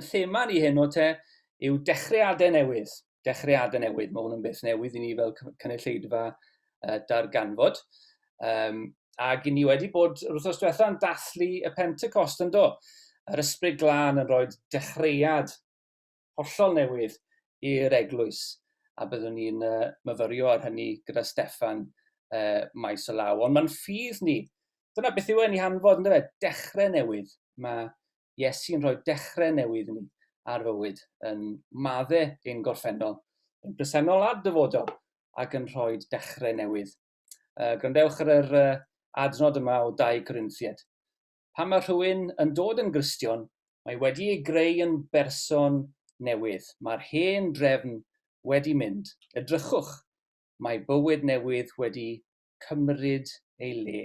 Yn thema ni heno te yw dechreuadau newydd. Dechreuadau newydd, mae hwn yn beth newydd i ni fel cynulleidfa uh, darganfod. Um, ac i ni wedi bod yr wythnos diwetha yn dathlu y Pentecost yn do. Yr ysbryd glân yn rhoi dechreuad hollol newydd i'r eglwys, a byddwn ni'n uh, myfyrio ar hynny gyda Steffan uh, maes o law. Ond mae'n ffydd ni. Dyna beth yw e'n ei hanfod, ynddo fe? Dechrau newydd. Mae Iesu'n rhoi dechrau newydd ni ar fywyd yn madde ein gorffennol, yn presennol a dyfodol, ac yn rhoi dechrau newydd. Uh, gwrandewch ar yr uh, adnod yma o 2 Corinthiad. pan mae rhywun yn dod yn Gristion, mae wedi ei greu yn berson newydd, mae'r hen drefn wedi mynd, edrychwch, mae bywyd newydd wedi cymryd ei le.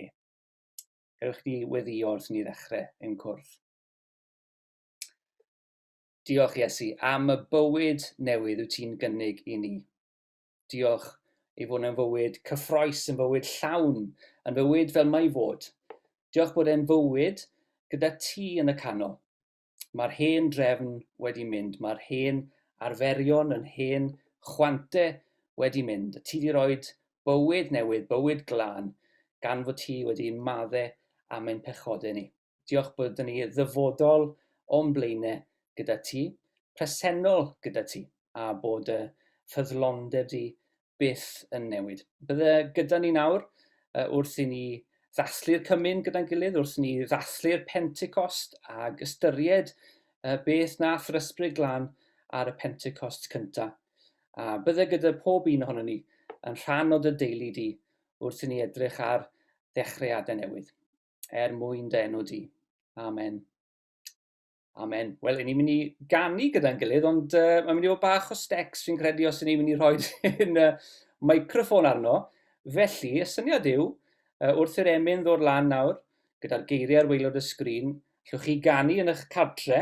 Gewch chi weddio wrth ni ddechrau ein cwrdd. Diolch Iesu am y bywyd newydd wyt ti'n gynnig i ni. Diolch ei fod yn fywyd cyffroes, yn fywyd llawn, yn fywyd fel mae i fod. Diolch bod e'n fywyd gyda ti yn y canol. Mae'r hen drefn wedi mynd, mae'r hen arferion, yn hen chwante wedi mynd. Ti wedi rhoi bywyd newydd, bywyd glân, gan fod ti wedi madde am ein pechodau ni. Diolch bod dyn ni ddyfodol o'n blaenau gyda ti, presennol gyda ti, a bod y ffyddlondeb di byth yn newid. Bydde gyda ni nawr uh, wrth i ni ddathlu'r cymun gyda'n gilydd, wrth ni ddathlu'r Pentecost ag ystyried uh, beth nath yr ysbryd glan ar y Pentecost cyntaf. A bydde gyda pob un ohono ni yn rhan o dy deulu di wrth i ni edrych ar ddechreuadau newydd. er mwyn denw di. Amen. Amen. Wel, ni'n mynd i ganu gyda'n gilydd, ond uh, mae'n mynd i fod bach o stecs fi'n credu os ni'n mynd i rhoi yn uh, microfon arno. Felly, y syniad yw, uh, wrth i'r emyn ddod lan nawr, gyda'r geiriau ar weilod y sgrin, llwch chi ganu yn eich cadre,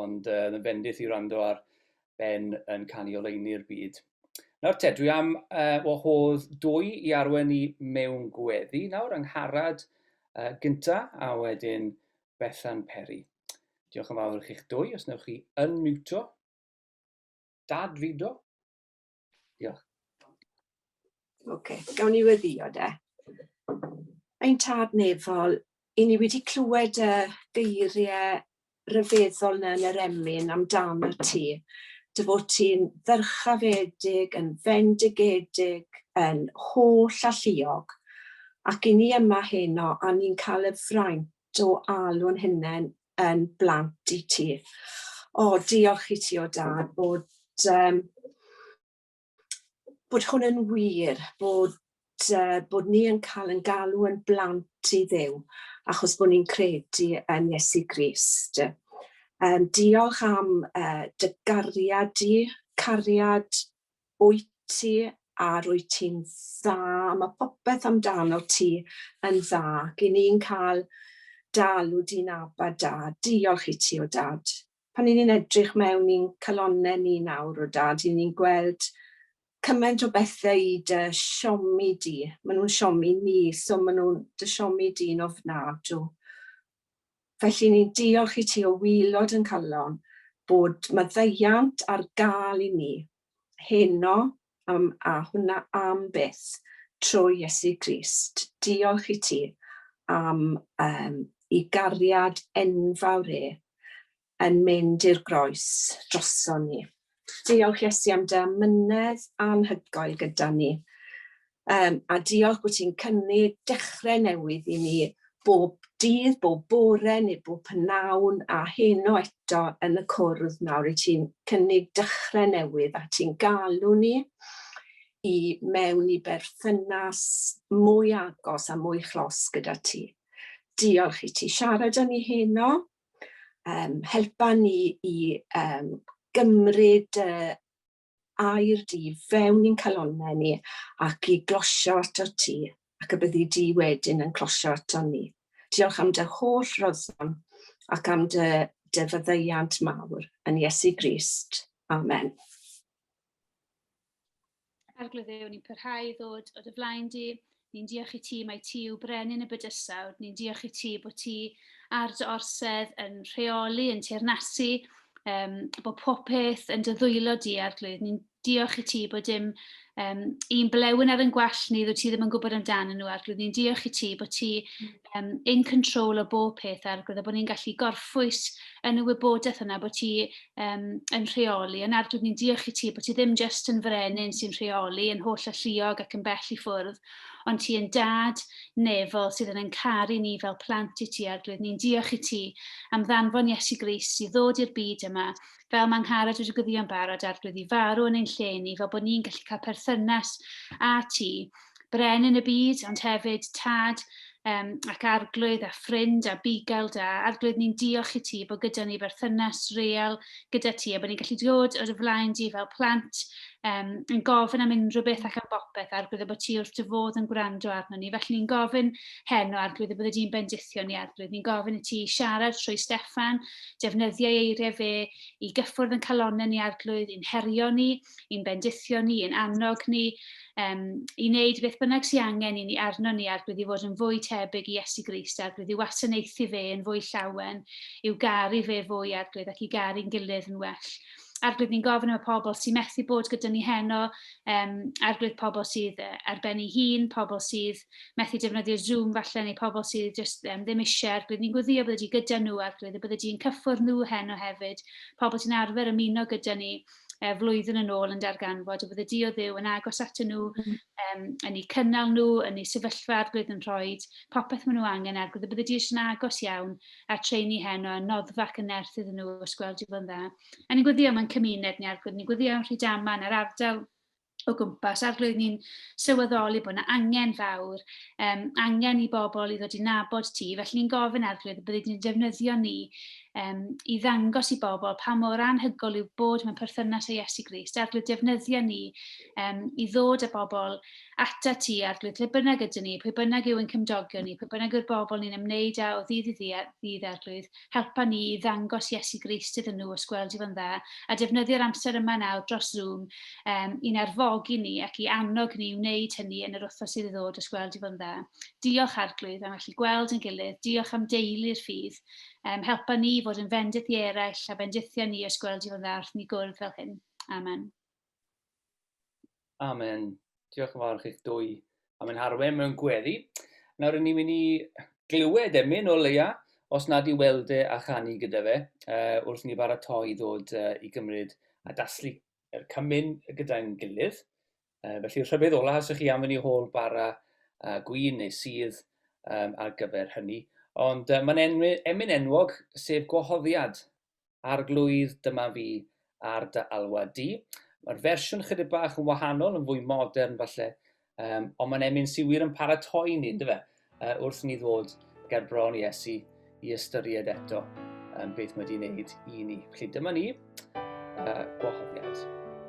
ond uh, yn fendith i rando ar Ben yn canu oleini'r byd. Nawr te, dwi am uh, wahodd dwy i arwen i mewn gweddi. Nawr, angharad uh, gynta a wedyn Bethan Perry. Diolch yn fawr i chi'ch dwy, os newch chi unmuto. Dad Fido. Diolch. Oce, okay, gawn ni weddio de. Ein tad nefol, i ni wedi clywed y geiriau rhyfeddol na yn yr emyn amdano ti. Dy fod ti'n ddyrchafedig, yn fendigedig, yn holl alluog. Ac i ni yma heno, a ni'n cael y fraint o alw'n hynna'n yn blant i ti. O diolch i ti o Dad bod yym bod hwn yn wir, bod yy bod ni yn cael yn galw yn blant i Dduw achos bod ni'n credu yn Iesu Grist. Yym diolch am yy dy gariad di, cariad wyt ti a rwyt ti'n dda, mae popeth amdanot ti yn dda, ac i ni'n cael dy alw di'n Abba Da. Diolch i ti, o Dad. Pan 'y ni'n edrych mewn i'n calonnau ni nawr, o Dad, 'y ni'n gweld cymaint o bethau i dy siomi di. Maen nhw'n siomi ni, so maen nhw'n dy siomi di'n ofnadw. Felly ni'n diolch i ti o waelod yn calon bod maddeuant ar gael i ni heno am a hwnna am byth trwy Iesu Grist. Diolch i ti am yym i gariad enfawr e yn mynd i'r groes droson ni. Diolch Iesu am dy amynedd anhygoel gyda ni. Um, a diolch bod ti'n cynnig dechrau newydd i ni bob dydd, bob bore neu bob pnawn a heno eto yn y cwrdd nawr i ti'n cynnig dechrau newydd a ti'n galw ni i mewn i berthynas mwy agos a mwy chlos gyda ti. Diolch i ti. Siarad â ni heno um, helpa ni i um, gymryd uh, air di fewn i'n calonau ni ac i glosio ato ti ac y byddi di wedyn yn closio ato ni. Diolch am dy holl roddon ac am dy, dy fyddeiant mawr yn Iesu Grist. Amen. Arglwydd Dduw, ni'n pyrhau i ddod o dy flaen di. Ni'n diolch i ti, mae ti yw brenin y bydysawd. Ni'n diolch i ti bod ti ar dy orsedd yn rheoli, yn teirnasu, um, bod popeth yn dy ddwylo di, Arglwydd. Ni'n diolch i ti bod dim um, un blewyn ar yn gwell ni, ddod ti ddim yn gwybod amdanyn nhw, Arglwydd. Ni'n diolch i ti bod ti um, in control o bob peth a'r gwrdd, a bod ni'n gallu gorffwys yn y wybodaeth yna bod ti um, yn rheoli, yn arglwydd ni'n diolch i ti bod ti ddim jyst yn frenin sy'n rheoli, yn holl alluog ac yn bell i ffwrdd, ond ti yn dad nefol sydd yn yn caru ni fel plant i ti, arglwydd ni'n diolch i ti am ddanfon Iesu Gris i ddod i'r byd yma fel mae Angharad wedi gwddio'n barod, arglwydd i farw yn ein lle ni, fel bod ni'n gallu cael perthynas â ti, brenin y byd, ond hefyd tad um, ac arglwydd a ffrind a bugail da. Arglwydd, ni'n diolch i ti bod gyda ni berthynas real gyda ti a bod ni'n gallu dod o'r flaen di fel plant um, yn gofyn am unrhyw beth ac am bopeth, arglwydd y bod ti wrth dy fodd yn gwrando arno ni. Felly ni'n gofyn heno, arglwydd y bod ydy'n bendithion ni, arglwydd. Ni'n gofyn i ti siarad trwy Steffan, Defnyddiai eiriau fe i gyffwrdd yn calonnau ni arglwydd, i'n herio ni, i'n bendithio ni, i'n annog ni, um, i wneud beth bynnag sy'n angen i ni arno ni arglwydd i fod yn fwy tebyg i Iesu Grist arglwydd i wasanaethu fe yn fwy llawen, i'w garu fe fwy arglwydd ac i garu'n gilydd yn well. Arglwydd ni'n gofyn am y pobl sy'n methu bod gyda ni heno, um, arglwydd pobl sydd ar ben ei hun, pobl sydd methu defnyddio Zoom falle neu pobl sydd jyst um, ddim eisiau arglwydd. Ni'n gweddio bod wedi gyda nhw arglwydd a bod wedi yn cyffwrdd nhw heno hefyd. Pobl sy'n arfer ymuno gyda ni e, flwyddyn yn ôl yn darganfod a bod y dio ddew yn agos at nhw, um, yn eu cynnal nhw, yn eu sefyllfa arglwydd yn rhoi popeth maen nhw angen arglwydd a bod y dio yn agos iawn a treini heno a noddfa ac yn nerth iddyn nhw os gweld i fod yn dda. A ni'n gweddio mae'n cymuned ni arglwydd, ni'n gweddio am Rhydaman a'r ardal o gwmpas a'r roedd ni'n sylweddoli bod yna angen fawr, um, angen i bobl i ddod i nabod ti, felly ni'n gofyn ar roedd y byddai ni'n defnyddio ni um, i ddangos i bobl pa mor anhygol yw bod mewn perthynas â Iesu Grist, a'r roedd defnyddio ni um, i ddod â bobl ata ti ar roedd lle bynnag ydyn ni, pwy bynnag yw yn cymdogion ni, pwy bynnag yw'r bobl ni'n ymwneud â o ddydd i ddydd ar roedd, Helpa ni i ddangos Iesu Grist iddyn nhw, os gweld i fo'n dda, a defnyddio'r amser yma nawr dros Zoom um, i'n arfogi ni ac i annog ni i wneud hynny yn yr wythnos sydd i ddod, os gweld i fo'n dda. Diolch, Arglwydd, am allu gweld yn gilydd. Diolch am deulu'r ffydd. Um, helpa ni i fod yn fendith i eraill a bendithio ni, os gweld i fo'n dda, wrth ni gwrdd fel hyn. Amen. Amen. Diolch yn fawr chi'ch dwy am ein harwen mewn gweddi. Nawr rydyn ni'n mynd i glywed emyn o leia, os nad i weld e a chanu gyda fe, uh, wrth ni baratoi i ddod uh, i gymryd a daslu yr cymyn gyda'n gilydd. Uh, felly rhyfedd ola, os ych chi am fyny hôl bara uh, gwyn neu sydd um, ar gyfer hynny. Ond uh, mae'n emyn enwog, sef gwahoddiad Arglwydd, dyma fi ar dy alwad di. Mae'r fersiwn chydig bach yn wahanol, yn fwy modern falle, um, ond mae'n emyn sy'n wir yn paratoi ni, ynddo fe, uh, wrth ni ddod ger bron i Esu i ystyried eto um, beth mae wedi'i wneud i ni. Felly dyma ni, uh, gwahoddiad.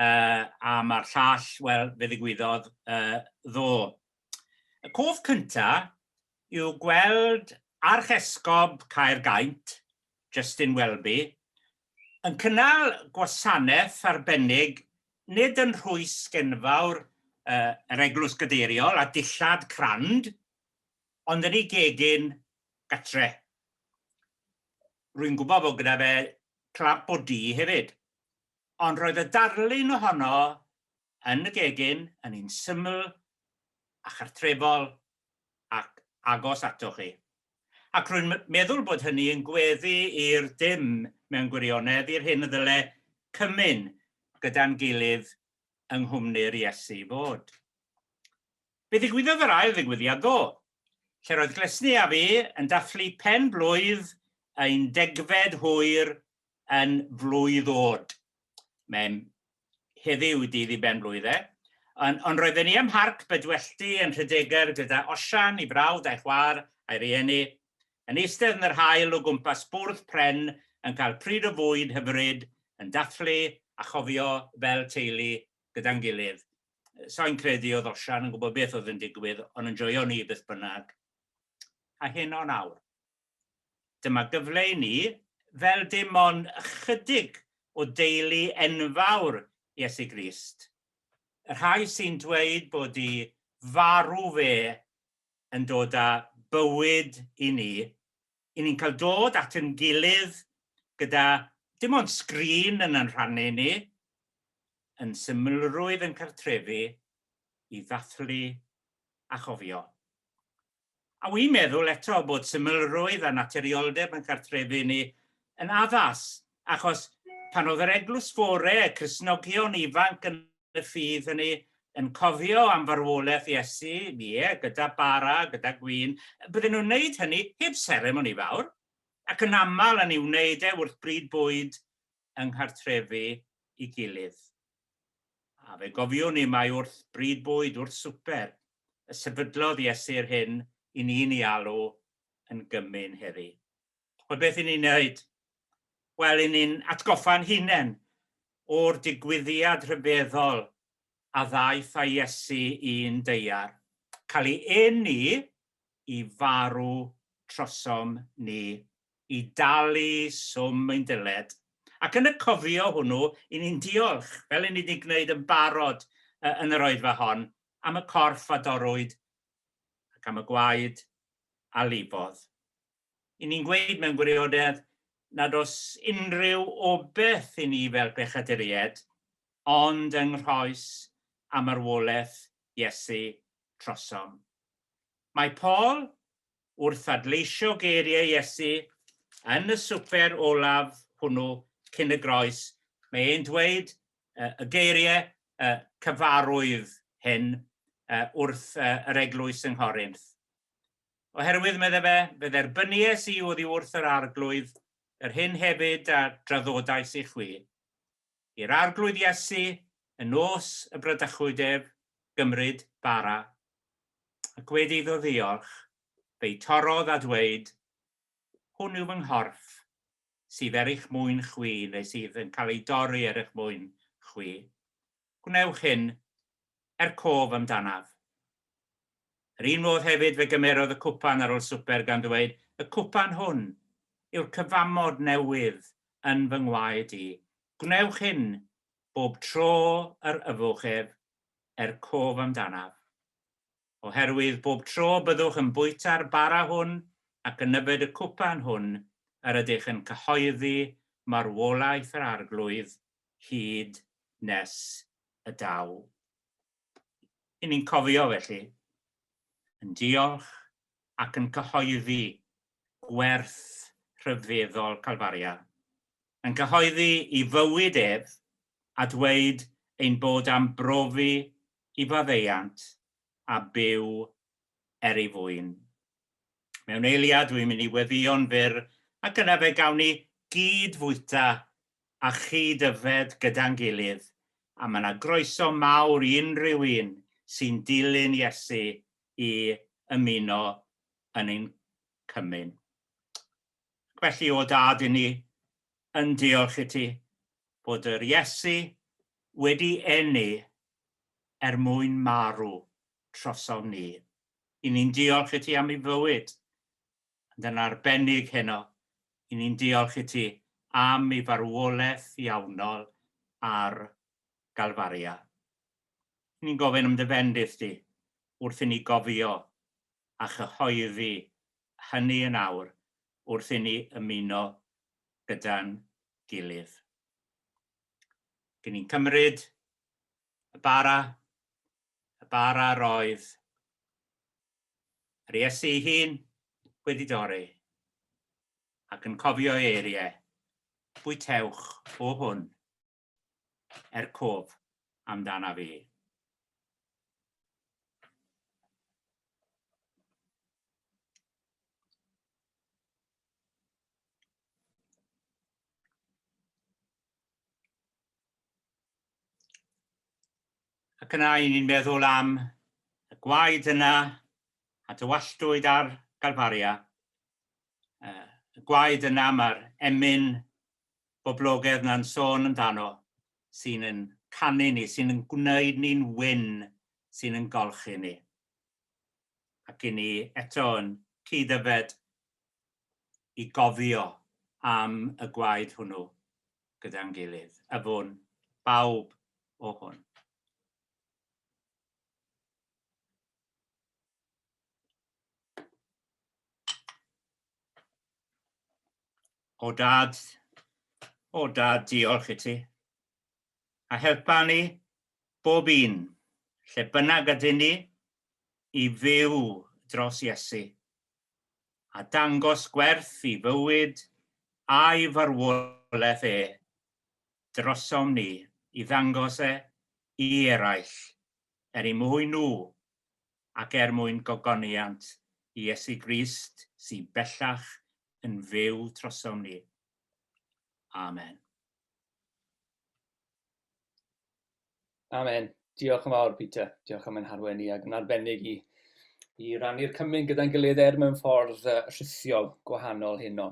uh, a mae'r llall, wel, fe ddigwyddodd uh, ddo. Y cof cynta yw gweld Archesgob Caergaint, Justin Welby, yn cynnal gwasanaeth arbennig nid yn rhwys genfawr uh, yr eglwys gadeiriol a dillad crand, ond yn ei gegin gatre. Rwy'n gwybod bod gyda fe clap o di hefyd. Ond roedd y darlun ohono yn y gegin yn un syml a chartrefol ac agos atoch chi. Ac rwy'n meddwl bod hynny yn gweddu i'r dim mewn gwirionedd, i'r hyn y ddyle cymyn gyda'n gilydd yng nghwmni'r Iesu fod. Fe ddigwyddodd yr ail ddigwyddiad ddo, lle roedd Glesni a fi yn dathlu pen blwydd ein degfed hwyr yn flwydd od. Mae'n heddiw dydd i ben blwydd e. Ond, ond roedden ni ym Mharc Bedwellty yn Rhydeger gyda Osian, ei frawd a'i chwaer a'i rieni, yn eistedd yn yr haul o gwmpas bwrdd pren yn cael pryd o fwyd hyfryd, yn dathlu a chofio fel teulu gyda'n gilydd. Soi'n credu oedd Osian yn gwybod beth oedd yn digwydd, ond yn joio ni beth bynnag. A heno nawr. Dyma gyfle i ni, fel dim ond ychydig o deulu enfawr Iesu Grist, y rhai sy'n dweud bod i farw fe yn dod â bywyd i ni, i ni'n cael dod at ein gilydd gyda dim ond sgrin yn ein rhannu ni, yn symlrwydd yn cartrefi, i ddathlu a chofio. A wi'n meddwl eto bod symlrwydd a naturioldeb yn cartrefu ni yn addas, achos pan oedd yr eglwys fore, y Cristnogion ifanc yn y ffydd hynny, yn cofio am farwolaeth Iesu, ie, gyda bara, gyda gwin, bydden nhw'n wneud hynny heb seremoni fawr, ac yn aml yn ei wneud e wrth bryd bwyd yng nghartrefi i gilydd. A fe gofiwn ni mai wrth bryd bwyd, wrth swper, y sefydlodd Iesu'r hyn i ni'n ei alw yn gymun heddi. Wel, beth i ni'n wneud? Wel, i ni'n atgoffa'n hunain o'r digwyddiad rhyfeddol a ddaeth â Iesu i'n deiar, cael ei eni i farw trosom ni i dalu swm ein dyled, ac yn y cofio hwnnw i ni'n diolch, fel i ni wedi gwneud yn barod yn yr Oedfa hon, am y corff a dorrwyd ac am y gwaed a lifodd. I ni'n gweud mewn gwirionedd nad oes unrhyw obaith i ni fel pechaduriaid, ond yng nghroes a marwolaeth Iesu trosom. Mae Paul wrth adleisio geiriau Iesu yn y swper olaf hwnnw cyn y groes, mae e'n dweud y geiriau cyfarwydd hyn wrth yr eglwys yng Nghorinth. Oherwydd, meddai fe, fe dderbyniais i oddi wrth yr Arglwydd yr hyn hefyd a draddodais i chwi, i'r Arglwydd Iesu yn nos y bradychwyd ef, gymryd bara, ac wedi iddo ddiolch, fe'i torrodd a dweud, Hwn yw fy nghorff, sydd er eich mwyn chwi, neu sydd yn cael ei dorri er eich mwyn chwi. Gwnewch hyn er cof amdanaf. Yr un modd hefyd fe gymerodd y cwpan ar ol swper gan ddweud, Y cwpan hwn yw'r cyfamod newydd yn fy ngwaed i, gwnewch hyn bob tro yr yfwch ef, er cof amdanaf. Oherwydd bob tro byddwch yn bwyta'r bara hwn ac yn yfed y cwpan hwn yr ydych yn cyhoeddi marwolaeth yr Arglwydd hyd nes y daw. I ni'n cofio, felly, yn diolch ac yn cyhoeddi gwerth rhyfeddol Calfaria, yn cyhoeddi i fywyd ef a dweud ein bod am brofi i faddeuant a byw er ei fwyn. Mewn eiliad dwi'n mynd i weddïo'n fyr ac yna fe gawn ni gyd fwyta a chyd yfed gyda'n gilydd, a mae 'na groeso mawr i unrhyw un sy'n dilyn Iesu i ymuno yn ein cymun. Ac felly, o Dad, i ni yn diolch i ti bod yr Iesu wedi eni er mwyn marw trosom ni. I ni'n diolch i ti am ei fywyd, ond yn arbennig heno, i ni'n diolch i ti am ei farwolaeth iawnol ar Galfaria. I ni'n gofyn am dy fendith di wrth i ni gofio a chyhoeddi hynny yn awr wrth i ni ymuno gyda'n gilydd. I ni'n cymryd Y bara, y bara roedd yr Iesu ei hun wedi dorri, ac yn cofio ei eiriau, Bwytewch o hwn, er cof amdana fi. Ac yna i ni'n meddwl am y gwaed yna a dywalltwyd ar Galfaria, y gwaed yna mae'r emyn boblogedd na'n sôn amdano, sy'n yn canu ni, sy'n yn gwneud ni'n wyn, sy'n yn golchi ni. Ac i ni eto yn cyd-yfed i gofio am y gwaed hwnnw. gyda'n gilydd, y fwn, bawb o hwn. O dad, o dad, diolch i ti. A helpa ni bob un, lle bynnag ydyn ni, i fyw dros Iesu a dangos gwerth i fywyd a'i farwolaeth e drosom ni i ddangos e i eraill, er y mwyn nhw, ac er mwyn gogoniant i Iesu Grist sy bellach yn fyw trosom ni. Amen. Amen. Diolch yn fawr, Peter. Diolch am ein harwen ni, ac yn arbennig i, i rannu'r cymryd gyda'n gilydd er mewn ffordd uh, rhithiol gwahanol hyn o.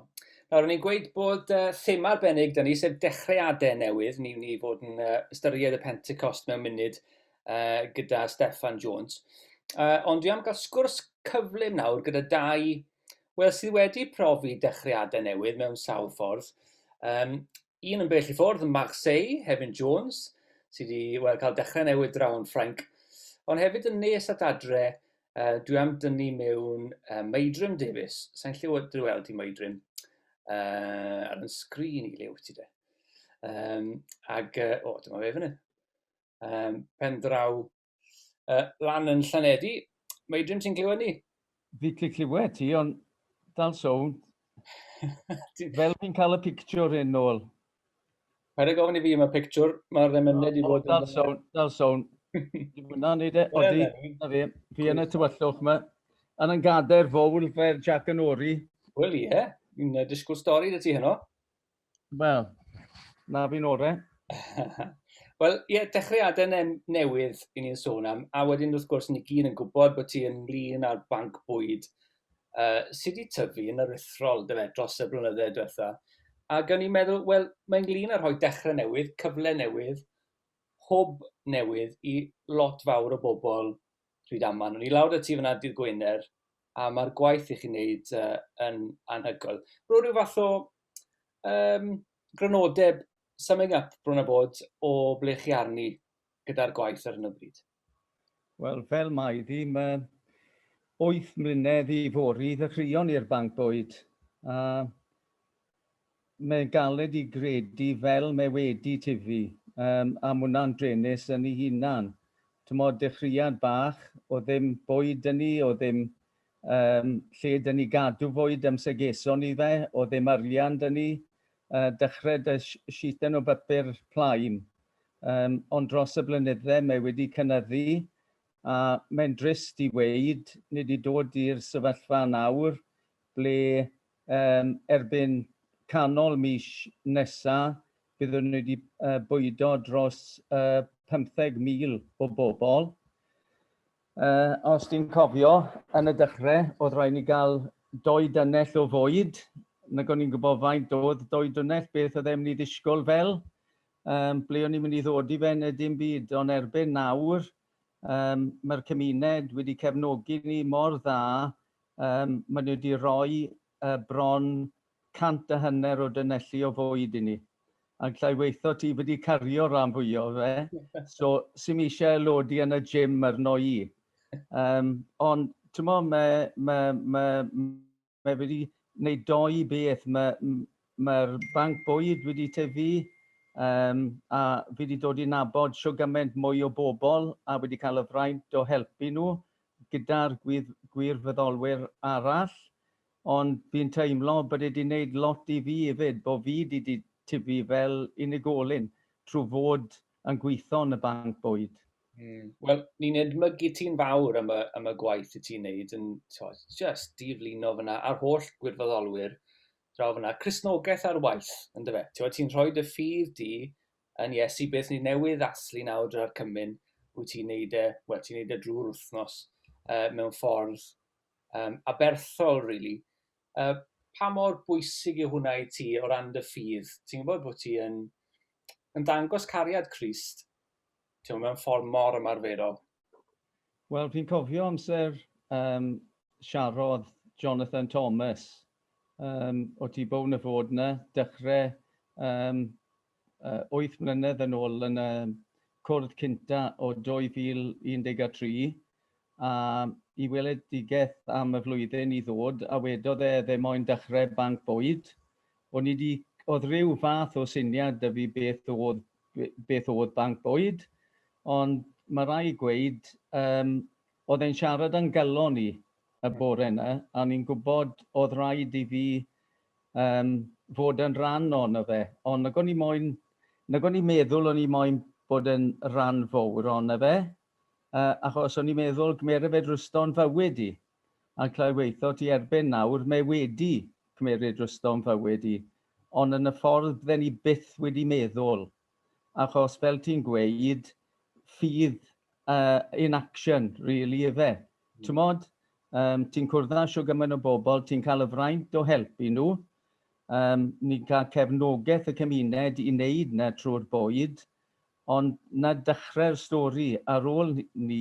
Nawr, o'n i'n gweud bod uh, thema arbennig dyn ni, sef dechreuadau newydd. Ni'n ni fod yn uh, ystyried y Pentecost mewn munud uh, gyda Stefan Jones. Uh, ond dwi am gael sgwrs cyflym nawr gyda dau, wel, sydd wedi profi dechreuadau newydd mewn sawl ffordd. Um, un yn bell i ffwrdd, Marseille, Hefin Jones, sydd wedi well, cael dechrau newydd draw yn Ffrainc, ond hefyd yn nes at adre, uh, dwi am dynnu mewn uh, Meidrim Davies, sa'n lle wedi dy weld i Meidrim, uh, ar yn sgrin i lew ti de. Um, ag, uh, o, dyma fe fyny. Um, pen draw uh, lan yn Llanedi. Mae Adrian, ti'n clywed ni? Fi ti'n clywed ti, ond dal sownd. Fel fi'n cael y pictiwr yn ôl. Paid â gofyn i fi yma pictiwr, mae'r emyned i fod... Dal sôn, dal sôn. Dwi'n mwynhau neud e, odi, na fi. Fi yn y tywyllwch yma. Yn yn gader fowl fer Jack yn ori. Wel ie, fi'n disgwyl stori dy ti heno. Wel, na fi'n orau. Wel, ie, yeah, dechreuadau ne newydd i ni'n sôn am, a wedyn wrth gwrs ni gyd yn gwybod bod ti yn lun ar banc bwyd uh, sydd wedi tyfu yn aruthrol dyfe, dros y blynyddoedd diwetha. Ac o'n i'n meddwl, wel, mae'n lun ar rhoi dechrau newydd, cyfle newydd, hwb newydd i lot fawr o bobl Rhydaman. O'n i lawr y tu fyna dydd Gwener, a mae'r gwaith i chi'n neud uh, yn anhygoel. Rwy'n rhyw fath o um, grynodeb summing up bron a bod o ble chi arni gyda'r gwaith ar hyn o bryd. Wel, fel mae ddim uh, wyth mlynedd i fori ddechreuon i'r banc bwyd. Uh, Mae'n galed i gredu fel mae wedi tyfu yym am wna'n druenus yn ei hunan. T'mod, dechreuad bach o ddim bwyd 'da ni, o ddim yym lle 'da ni gadw fwyd amser geson ni fe, o ddim arian 'da ni, yy dechrau 'da sh- sheeten o bapur plaen. Yym ond dros y blynydde mae wedi cynyddu a mae'n drist i weud, ni 'di dod i'r sefyllfa nawr ble yym erbyn canol mis nesa byddwn ni 'di yy bwydo dros yy 15,000 o bobl. Yy os ti'n cofio, yn y dechrau oedd rhaid ni gael dou dynnell o fwyd, nag o'n i'n gwybod faint oedd dou dynnell, beth oedd e'n mynd i ddisgwyl fel, yym ble o'n i'n mynd i ddod i fe neu dim byd, ond erbyn nawr yym mae'r cymuned wedi cefnogi ni mor dda Yym, maen nhw wedi rhoi uh, bron cant a hanner o dynelli o fwyd i ni. A llai weitho ti wedi cario rhan fwyo fe, so sy'n eisiau lodi yn y gym ar noi i. Um, ond, ti'n mo, mae ma, ma, ma wedi gwneud doi beth. Mae'r ma, ma banc bwyd wedi tyfu, um, a fi wedi dod i nabod siw gymaint mwy o bobl a wedi cael y fraint o helpu nhw gyda'r gwirfoddolwyr arall, ond fi'n teimlo bod e 'di wneud lot i fi 'fyd, bo' fi 'di 'di tyfu fel unigolyn trwy fod yn gweithio yn y banc bwyd. Mm. Wel, ni'n edmygu ti'n fawr am y, am y gwaith i ti'n neud yn t'od, jyst diflino fyna a'r holl gwirfoddolwyr draw fyna. Cristnogaeth ar waith, yndyfe? Ti'n ti'n rhoi dy ffydd di Yn Iesu beth ni newydd ddathlu nawr drwy'r cymun, wyt ti'n neud e, wel ti'n neud e drwy'r wythnos uh, mewn ffordd um, aberthol, really. Uh, pa mor bwysig yw hwnna i ti o ran dy ffydd? Ti'n gwybod bod ti yn, yn dangos cariad Christ ti'n mewn ffordd mor ymarferol? Wel, fi'n cofio amser um, siarodd Jonathan Thomas um, o Tŷ Bown y Fod yna, dechrau um, uh, 8 mlynedd yn ôl yn y cwrdd cynta o 2013, a i weledigaeth am y flwyddyn i ddod, a wedodd e ddim moyn dechrau banc bwyd, O'n i 'di, o'dd ryw fath o syniad 'da fi beth o'dd beth o'dd banc bwyd, ond ma' rai' gweud yym o'dd e'n siarad a'n galon i y bore 'na, a o'n i'n gwbod o'dd raid i fi yym fod yn ran ono fe, ond nag o'n i moyn, nag o'n i'n meddwl o'n i moyn bod yn ran fowr ono fe, yy achos o'n i'n meddwl gymera fe drosto'n fywyd i. a clywyddo ti erbyn nawr mae wedi cymeryd rwystr o'm fywyd i, ond yn y ffordd bydden ni byth wedi meddwl, achos fel ti'n gweud, ffydd in action rili ife, t'mod? Yym ti'n cwrdd â shwd gymaint o bobl, ti'n cael y fraint o helpu nhw, yym ni'n cael cefnogaeth y cymuned i wneud 'na trwy'r bwyd, Ond 'na dechrau'r stori, ar ôl 'ny,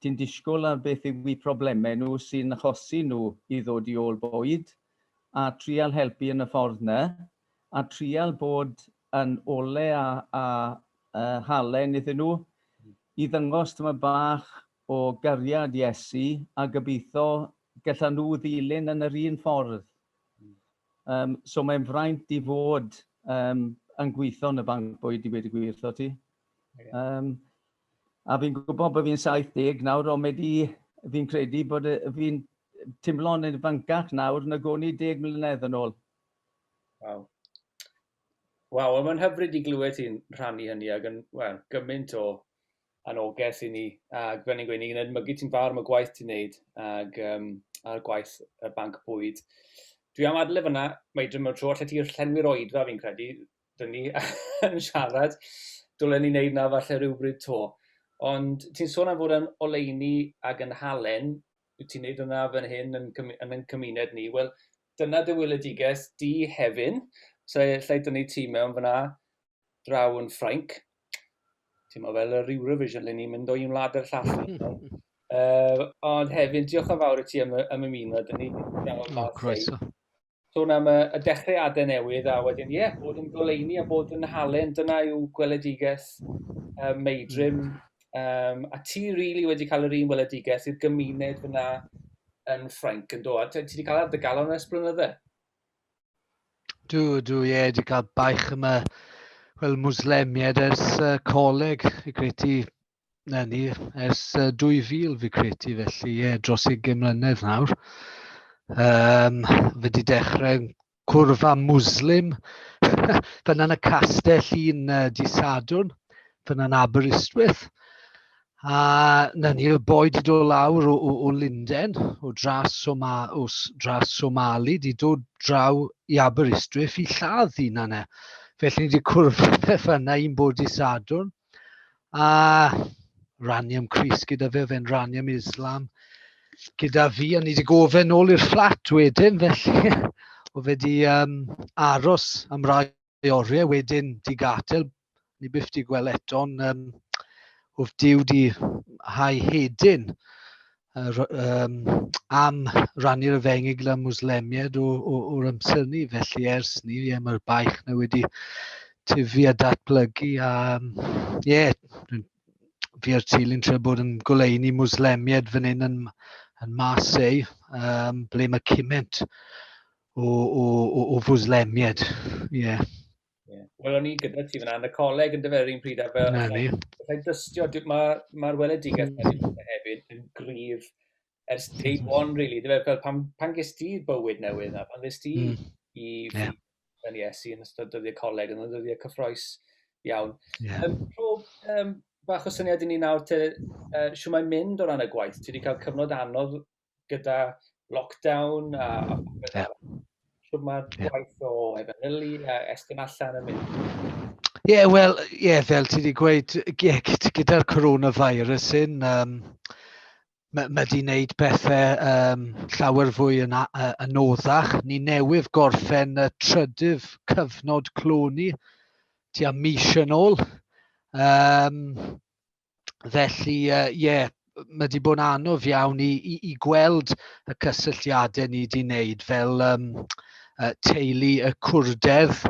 ti'n disgwyl ar beth yw problemau nhw sy'n achosi nhw i ddod i ôl bwyd, a trial helpu yn y ffordd 'na, a trial bod yn ole a a yy halen iddyn nhw, i ddangos tamaid bach o gariad Iesu, a gobeithio gallan nhw ddilyn yn yr un ffordd Um, so mae'n fraint i fod um, yn gweithio yn y banc bwyd i wedi gwir, tho ti. Um, a fi'n gwybod bod fi'n 70 nawr, ond mae di, fi'n credu bod fi'n timlo'n yn fancach nawr na gwn i 10 mlynedd yn ôl. Waw. Waw, mae'n hyfryd i glywed ti'n rhannu hynny ag yn, well, gymaint o annogaeth i ni, ac fel ni'n gweud, ni'n edmygu ti'n fawr am y gwaith ti'n neud, ac um, a'r gwaith y banc bwyd. Dwi am adle fyna, mae dyma'r tro allet ti llenwi'r oedfa fi'n credu, dyn ni yn siarad, dylen ni wneud na falle rhywbryd to. Ond ti'n sôn am fod yn oleini ac yn halen, wyt ti'n neud hwnna fan hyn yn, yn yn cymuned ni, wel dyna dy weledigaeth di hefyn, so lle dyn ni ti mewn fyna, draw yn Ffrainc, ti'n meddwl fel yr Eurovision, le ni'n mynd o un wlad i'r llall. uh, ond hefyd, diolch yn fawr i ti am, am ymuno, dyn ni wedi oh, croeso. Sôn am y, y dechreuadau newydd, a wedyn, ie, yeah, bod yn goleini a bod yn halen, dyna yw gweledigaeth um, meidrim. Um, a ti rili really wedi cael yr un weledigaeth i'r gymuned fyna yn Ffrainc yn dod. Ti wedi cael ar dy galon ers blynydde? Dw, dw, ie, yeah, wedi cael baich yma, wel, Muslemiad ers uh, coleg, fi credu, na ni, ers uh, 2000 fi credu, felly, ie, yeah, dros 20 mlynedd nawr. Um, fe wedi dechrau cwrfa Muslim, fyna'n y castell un uh, di Sadwn, fyna'n Aberystwyth. A na ni, oedd boi 'di dod lawr o, o, o Lunden, o dras Soma, o dras Somali, 'di dod draw i Aberystwyth i lladd hunan e. Felly ni wedi cwrdd fe fanna un bod di Sadwrn. A rannu am Cris gyda fe, fe'n rannu am Islam gyda fi, a ni wedi gofyn ôl i'r fflat wedyn, felly o fe wedi um, aros am rai rhai oriau wedyn di gatel, ni byth di gweld eto, ond um, wrth diw di hau hedyn um, am rannu'r efengyl gyda Muslemiad o'r amser ni. Felly ers ni, ie, mae'r baich na wedi tyfu a datblygu. A, ie, yeah, fi a'r teulu'n trio bod yn goleini Muslemiad fan hyn yn, yn Marseille, um, ble mae cymaint o, o, o, o fwslemiad. Ie. Yeah. Yeah. Wel, o'n i gyda ti fyna, yn y coleg yn dyfer un pryd, a fel... Na ni. Rhaid dystio, mae'r ma weledigaeth mm. yna hefyd yn gryf ers day one, really. Dyfer, fel pan, pan ges ti bywyd newydd na, pan ges ti mm. i yeah. yn Iesu yn ystod dyddiau coleg, yn ystod dyddiau cyffroes iawn. Yeah. Um, prof, um, bach o syniad i ni nawr te, uh, siw mae'n mynd o ran y gwaith. Ti wedi cael cyfnod anodd gyda lockdown a a popeth arall. Ie. Shwd ma'r Ie. gwaith o efengylu a estyn allan yn mynd? Ie, wel, ie, fel ti wedi gweud, ie, gyd- gyda'r coronavirus hyn, um, mae ma 'di wneud pethau um, llawer fwy yn, a- yy, yn oddach. Ni newydd gorffen y trydydd cyfnod clo ni tua mis yn ôl. Um, felly yy ie, ma' 'di bod yn anodd iawn i i i gweld y cysylltiadau ni 'di wneud fel yym yy teulu y cwrdedd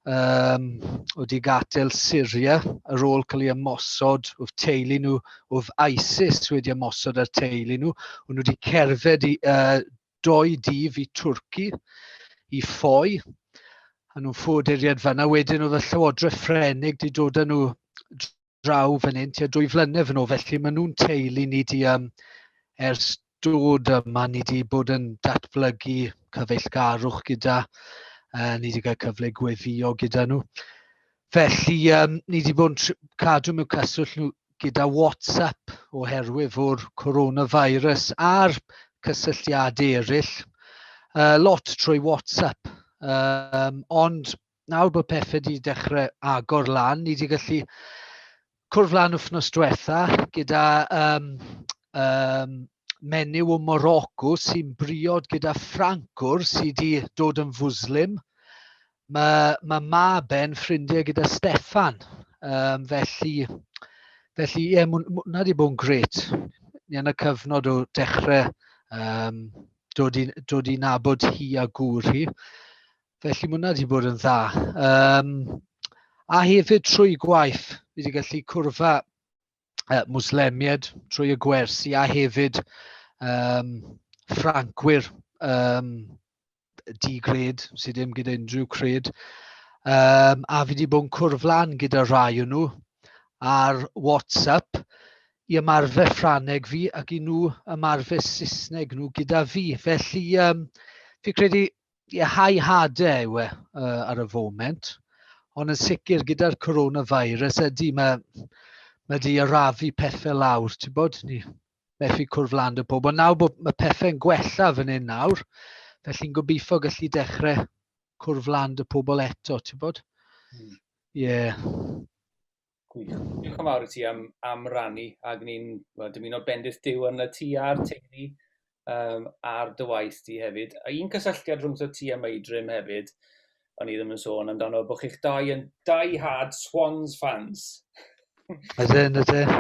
yym oedd 'di gadael Syria ar ôl cael eu ymosod, oedd teulu nhw, oedd ISIS wedi ymosod ar teulu nhw. O'n nhw 'di cerdded i yy dou dydd i Twrci i ffoi a nhw'n ffoduriaid fan'na. Wedyn oedd y llywodraeth Ffrenig 'di dod â nhw draw fan hyn tua dwy flynedd yn ôl, felly maen nhw'n teulu ni di um, ers dod yma, ni di bod yn datblygu cyfeillgarwch gyda, uh, ni di cael cyfle gweddio gyda nhw. Felly, um, ni di bod yn cadw mewn cyswllt nhw gyda WhatsApp oherwydd o'r coronavirus a'r cysylltiadau eraill. Uh, lot trwy WhatsApp, um, ond nawr bod pethau wedi dechrau agor lan, ni wedi gallu cwrdd lan wythnos diwetha gyda um, um, menyw o Morocco sy'n briod gyda Ffrancwr sydd wedi dod yn fwslim. Mae, mae mab e'n ffrindiau gyda Stefan. Um, felly, felly ie, yeah, mwna wedi bod yn gret. Ni yn y cyfnod o dechrau um, dod, i, dod i nabod hi a gŵr hi. Felly mae hwnna wedi bod yn dda. Um, a hefyd trwy gwaith, fi wedi gallu cwrfa uh, Muslemiad trwy y gwersi a hefyd um, Ffrancwyr um, di-gred sydd ddim gyda unrhyw cred. Um, a fi wedi bod yn cwrflan gyda rhai o nhw ar WhatsApp i ymarfer Ffraneg fi ac i nhw ymarfer Saesneg nhw gyda fi. Felly, um, fi credu high harder yw e uh, ar y foment, ond yn sicr gyda'r coronavirus ydy mae, mae di arafu pethau lawr, ti'n bod, ni methu cwrdd lan y pobl. Nawr bod mae pethau'n gwella fan hyn nawr, felly'n gobeithio gallu dechrau cwrdd lan y pobl eto, ti'n bod? Hmm. Ie. Yeah. Gwych. Diolch yn fawr i ti am, am rannu ac ni'n dymuno bendith Dyw yn y ti a'r teulu um, ar dy waith di hefyd. A un cysylltiad rhwng ti a Meidrim hefyd, o'n i ddim yn sôn amdano, bod chi'ch dau yn dau hard Swans fans. Ydyn, ydyn.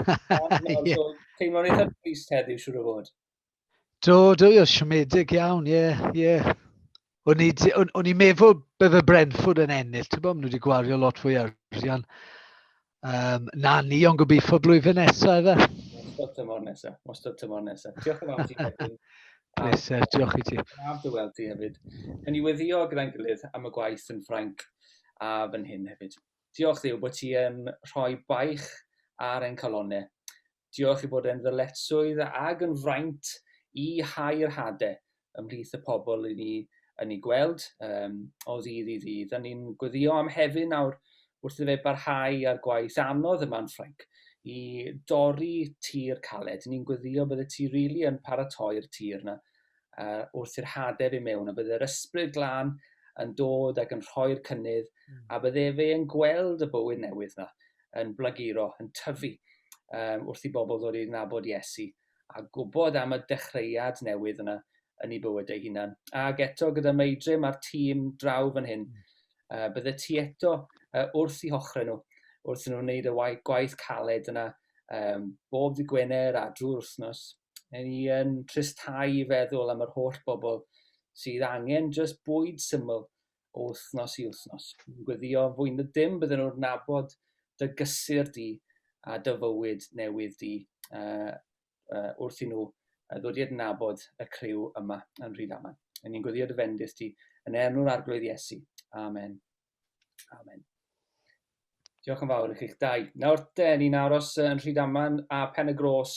Teimlo'n eitha trist heddiw, siwr o fod. Do, do, ie, siomedig iawn, ie, ie. O'n i, di- o'n, o'n i'n meddwl bydde Brentford yn ennill, ti'n bod, maen nhw wedi gwario lot fwy o arian um, na ni, ond gobeithio blwyddyn nesaf efe. Wastad tymor nesaf, wastad tymor nesaf. Diolch yn fawr ti wedyn. Pleser, diolch i ti. Braf dy weld ti hefyd. Yn i weddio gyda'n gilydd am y gwaith yn Ffrainc a fan hyn hefyd. Diolch ddiw bod ti yn rhoi baich ar ein calonau. Diolch ei bod e'n ddyletswydd ag yn fraint i hau'r hade ymhlith y pobl i ni yn ei gweld um, o ddydd i ddydd. A ni'n gweddio am hefyd nawr wrth i fe barhau â'r gwaith anodd yma'n Ffrainc i dorri tir caled. Ni'n gweddio bydde ti rili really yn paratoi'r tir yna uh, wrth i'r hadeb i mewn, a bydd yr ysbryd glân yn dod ac yn rhoi'r cynnydd, hmm. a bydde fe yn gweld y bywyd newydd yna, yn blaguro, yn tyfu, um, wrth i bobl ddod i'r nabod Iesu, a gwybod am y dechreuad newydd yna yn ei bywyd ei hunan. Ac eto gyda Meidrim a'r tîm draw fan hyn, uh, bydde ti eto uh, wrth i hochrau nhw, wrth nhw'n wneud y gwaith caled yna, um, bob di Gwener a drwy'r wythnos, Mae ni yn tristau i feddwl am yr holl bobl sydd angen jyst bwyd syml o wythnos i wythnos. Yn gweddio yn fwy na dim bydden nhw'n nabod dy gysur di a dy fywyd newydd di uh, uh, wrth i nhw ddod i adnabod y criw yma yn Rhydaman. Yn ni'n gweddio dy fendith di yn enw'r arglwydd Iesu. Amen. Amen. Diolch yn fawr i chi'ch dau. Nawr te, ni'n aros yn Rhydaman a Pen y Gros.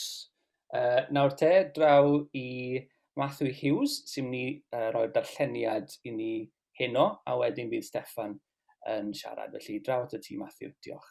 Uh, nawr te, draw i Matthew Hughes, sy'n ni uh, roi'r darlleniad i ni heno, a wedyn bydd Stefan yn siarad. Felly, draw at y ti, Matthew. Diolch.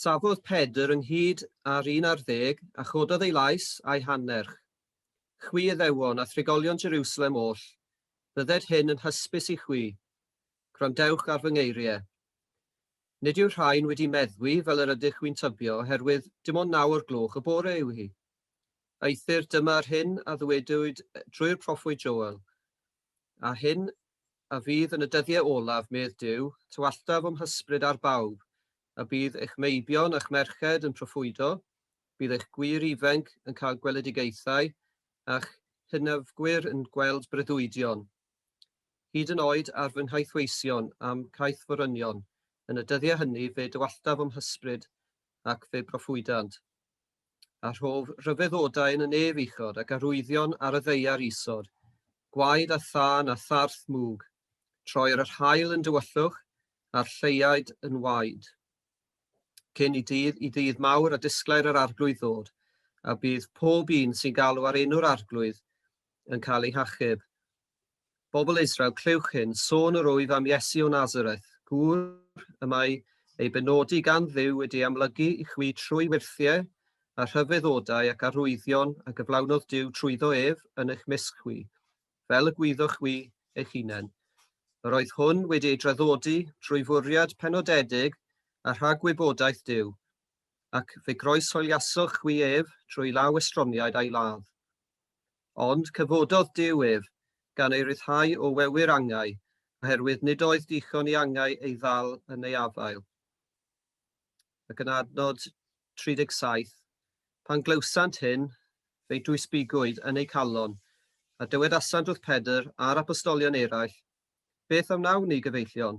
Safodd Pedr ynghyd â'r un ar ddeg, a chododd ei lais a'i hannerch. Chwi Iddewon, a thrigolion Jerusalem oll, bydded hyn yn hysbys i chwi, gwrandewch ar fy ngeiriau. Nid yw'r rhain wedi meddwi fel yr ydych chwi'n tybio, oherwydd dim ond naw o'r gloch y bore yw hi. Eithr dyma'r hyn a ddywedwyd drwy'r proffwyd Joel, A hyn a fydd yn y dyddiau olaf, medd Duw, tywalltaf o'm hysbryd ar bawb, a bydd eich meibion a'ch merched yn proffwydo, bydd eich gwŷr ifainc yn cael gweledigaethau, a'ch hynafgwyr yn gweld breuddwydion, hyd yn oed ar fy nghaethweision a'm caethforynion, yn y dyddiau hynny fe dywalltaf o'm hysbryd ac fe broffwydant. a rhof rhyfeddodau yn y nef uchod ac arwyddion ar y ddeiar isod, gwaed a thân a tharth mwg, troer yr haul yn dywyllwch a'r lleuaid yn waed. Cyn i dydd i ddydd mawr a disglair yr arglwydd ddod, a bydd pob un sy'n galw ar enw'r arglwydd yn cael ei hachub, Bobl Israel, clywch hyn, sôn yr wyf am Iesu o Nazareth, gŵr y mae ei benodi gan Dduw wedi ei amlygu i chwi trwy wirthiau a rhyfeddodau ac arwyddion a gyflawnodd Duw trwyddo ef yn eich mysg chwi, fel y gwyddoch chwi eich hunain. Yr oedd hwn wedi ei draddodi drwy fwriad penodedig a rhagwybodaeth Duw, ac fe groeshoeliasoch chwi ef trwy law estroniaid a'i ladd. Ond cyfododd Duw ef, gan ei ryddhau o wewyr angau, oherwydd nid oedd dichon i angau ei ddal yn ei afael. Ac yn adnod 37, Pan glywsant hyn, fe'i dwysbigwyd yn eu calon, a dywedasant wrth Pedr a'r apostolion eraill, Beth a wnawn ni, gyfeillion?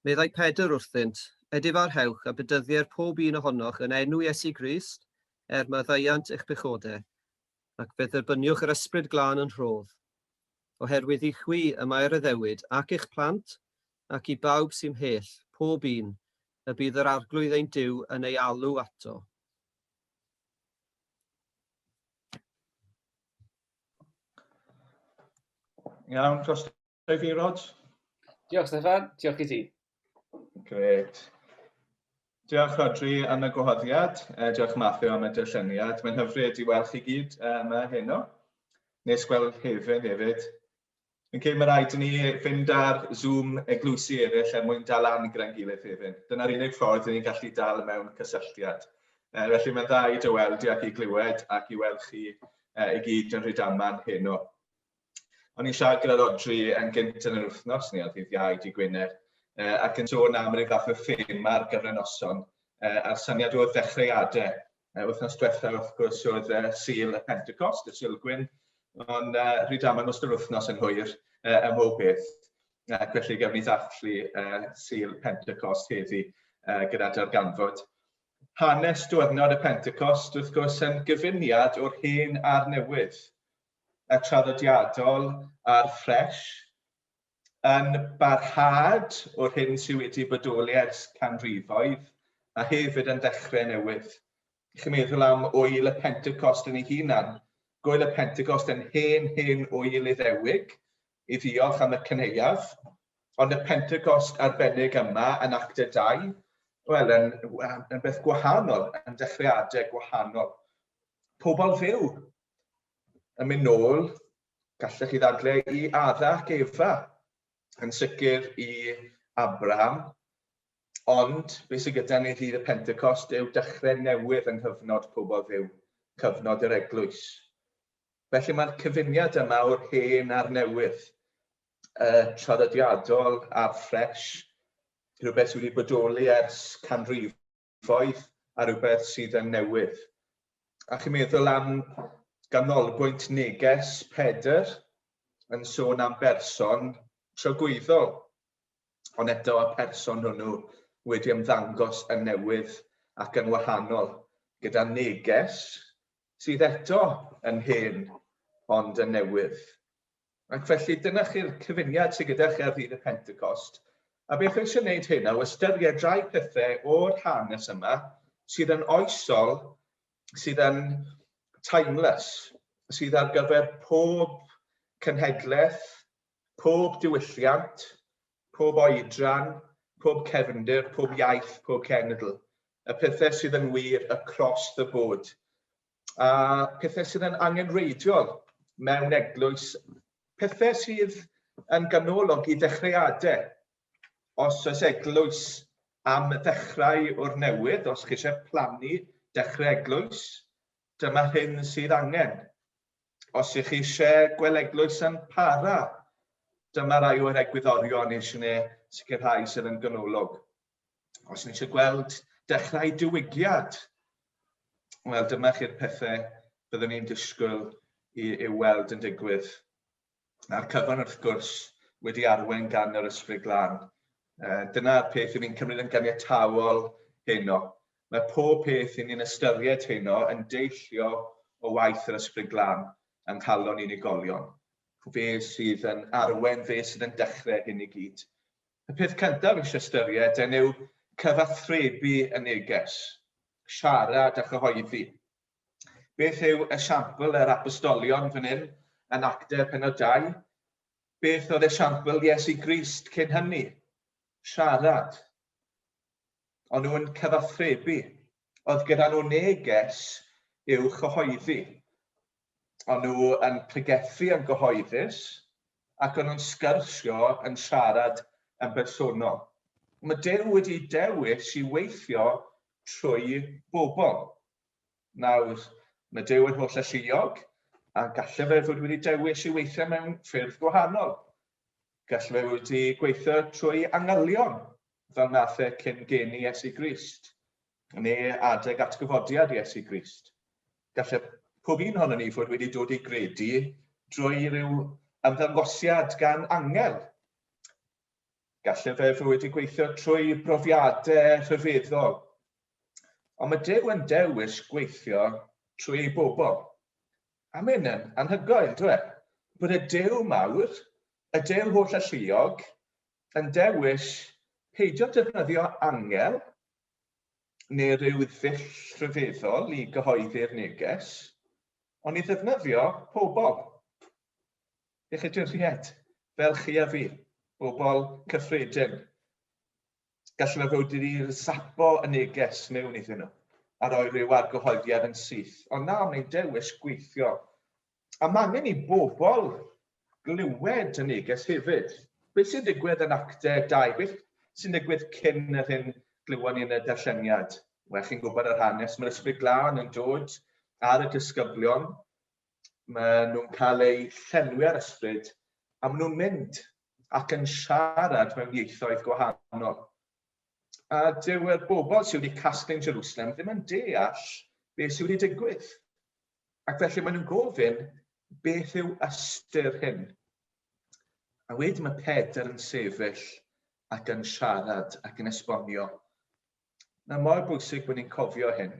Meddai Pedr wrthynt, Edifarhewch a bedyddier pob un ohonoch yn enw Iesu Grist, er maddeuant eich pechodau, ac fe dderbyniwch yr Ysbryd Glân yn rhodd. Oherwydd i chwi y mae rhyddewyd, ac i'ch plant, ac i bawb sy'n mhell, pob un, y bydd yr Arglwydd ein Duw yn ei alw ato. Iawn, dros Dweud fi, Rog? Diolch, Steffan. Diolch i ti. Gret. Diolch Rodri am y gwahoddiad, uh, diolch Matthew am y dyllyniad. Mae'n hyfryd i weld chi gyd uh, yma heno. Nes gweld hefyd hefyd. Yn cyn mae rhaid i ni fynd ar Zoom eglwysi eraill er mwyn dal lan gyda'n gilydd hefyd. Dyna'r unig ffordd i ni'n gallu dal mewn cysylltiad. Uh, felly mae'n dda i dy weld i ac i glywed ac i weld chi uh, i gyd yn rhyd aman heno. O'n i'n siarad gyda'r Odri yn gynt yn yr wythnos, ni oedd hi'r iau di Gwyner, uh, ac yn sôn am rhyw fath o ffilm ar gyfer y noson, uh, a'r syniad oedd ddechreuadau. Uh, wythnos diwethaf, wrth gwrs, oedd uh, Sil y Pentecost, y Silgwyn, ond uh, rhyd aml nos yr wythnos yn hwyr uh, ym mhob beth. Uh, felly gawn ni ddathlu uh, Sil Pentecost heddi uh, gyda darganfod. Hanes diwrnod y Pentecost, wrth gwrs, yn gyfuniad o'r hen a'r newydd. a traddodiadol ar ffres, yn barhad o'r hyn sydd wedi bodoli ers canrifoedd, a hefyd yn ddechrau newydd. Chi'n meddwl am wyl y Pentecost yn ei hunan, gwyl y Pentecost yn hen, hen wyl Iddewig, i ddiolch am y cyneuaf, ond y Pentecost arbennig yma yn Actau 2, wel, yn, yn beth gwahanol, yn dechreuadau gwahanol. Pobl fyw, yn mynd nôl, gallech chi ddadle i Ada ac Efa, yn sicr i Abraham, ond beth sydd gyda ni ddydd y Pentecost yw dechrau newydd yng nghyfnod pobl ddiw, cyfnod yr eglwys. Felly mae'r cyfuniad yma o'r hen a'r newydd, y traddodiadol a'r ffres, rhywbeth sydd wedi bodoli ers canrif cyfoeth a rhywbeth sydd yn newydd. A chi'n meddwl am ganolbwynt neges Pedr yn sôn am berson tragwyddol, ond eto y person hwnnw wedi ymddangos yn newydd ac yn wahanol, gyda neges sydd eto yn hen ond yn newydd. Ac felly, dyna chi'r cyfuniad sydd gyda chi ar ddydd y Pentecost. A beth wy eisiau gwneud hyn, o ystyried rhai pethau o'r hanes yma sydd yn oesol, sydd yn timeless, sydd ar gyfer pob cenhedlaeth, pob diwylliant, pob oedran, pob cefndir, pob iaith, pob cenedl. Y pethau sydd yn wir across the board. a pethau sydd yn angenrheidiol mewn eglwys, pethau sydd yn ganolog i ddechreuadau. Os oes eglwys am ddechrau o'r newydd, os chi eisiau plannu dechrau eglwys, dyma hyn sydd angen. Os ych chi eisiau gweld eglwys yn para, dyma rai o'r egwyddorion eisiau neu sicrhau sydd yn ganolog. Os ni eisiau gweld dechrau diwygiad, wel dyma chi'r pethau byddwn ni'n disgwyl i, i weld yn digwydd. A'r cyfan wrth gwrs wedi arwain gan yr ysbryd glân. Uh, dyna'r peth ni'n cymryd yn ganiataol heno. Mae pob peth i ni'n ystyried heno yn deillio o waith yr ysbryd glân yng nghalon unigolion. Fe sydd yn arwen, fe sydd yn dechrau hyn i gyd. Y peth cyntaf eisiau ystyried yn yw cyfathrebu y neges, siarad a chyhoeddi. Beth yw esiampl yr apostolion fan hyn yn Actau penod 2? Beth oedd esiampl Iesu Grist cyn hynny? Siarad. O'n nhw'n cyfathrebu. Oedd gyda nhw neges i'w chyhoeddi. O'n nhw yn pregethu yn gyhoeddus ac o'n nhw'n sgyrshio yn siarad yn bersonol. Mae Duw wedi dewis i weithio trwy bobl. Nawr, mae Duw yn holl alluog a gallai fe fod wedi dewis i weithio mewn ffyrdd gwahanol. Gallai fe wedi gweithio trwy angylion, fel nath e cyn geni Iesu Grist. neu adeg atgyfodiad Iesu Grist. Gallai pob un ohono ni fod wedi dod i gredu drwy ryw ymddangosiad gan angel. Gallai fe fod wedi gweithio trwy brofiadau rhyfeddol. Ond mae Duw yn dewis gweithio trwy ei bobl. A mae hyn yn anhygoel, dwi e? Bod y Duw mawr, y Duw holl alluog, yn dewis peidio defnyddio angel neu ryw ddull rhyfeddol i gyhoeddi'r neges, ond i ddefnyddio pobl. Eich ystyried, fel chi a fi, bobl cyffredin. Gallu fe fod wedi sapo y neges mewn iddyn nhw a roi rhyw argyhoeddiad yn syth, ond na, mae'n dewis gweithio A mae angen i bobl glywed y neges hefyd. Beth sy'n digwydd yn Acte 2? Beth sy'n digwydd cyn yr hyn glywon ni yn y darlleniad? Wel, chi'n gwybod yr hanes, mae'r Ysbryd Glân yn dod ar y disgyblion, mae nhw'n cael eu llenwi ar ysbryd, a maen nhw'n mynd ac yn siarad mewn ieithoedd gwahanol. A dyw'r bobl sydd wedi casglu'n Jerusalem ddim yn deall beth sydd wedi digwydd. Ac felly maen nhw'n gofyn, beth yw ystyr hyn? A wedyn mae Pedr yn sefyll ac yn siarad ac yn esbonio. Na mor bwysig bod ni'n cofio hyn.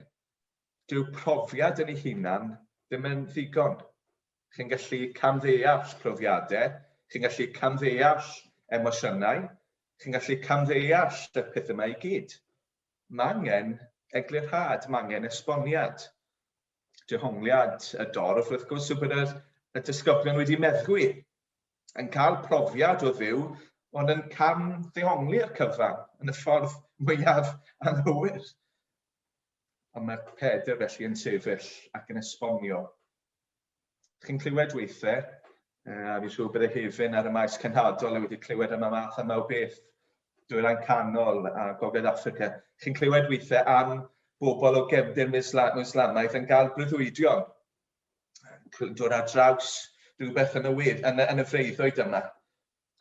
Dyw profiad yn ei hunan ddim yn ddigon. Chi'n gallu camddeall profiadau, chi'n gallu camddeall emosiynau, chi'n gallu camddeall y pethau yma i gyd. Mangen eglurhad, mangen esboniad. Dehongliad y dorf, wrth gwrs, yw bod yr, y disgyblion wedi meddwi, yn cael profiad o ddiw, ond yn cam ddehongli'r cyfan yn y ffordd mwyaf anghywir. Ond mae Pedr felly yn sefyll ac yn esbonio Chi'n clywed weithiau, a fi'n siŵr bod y hefyn ar y maes cenhadol a wedi clywed am y math yma o beth, dwyrain canol a gogledd Africa. Chi'n clywed weithiau am bobl o gefndir Islamaidd yn cael breuddwydion, dod ar draws rhywbeth yn y, wedd, yn, y, yn y freiddoedd yma.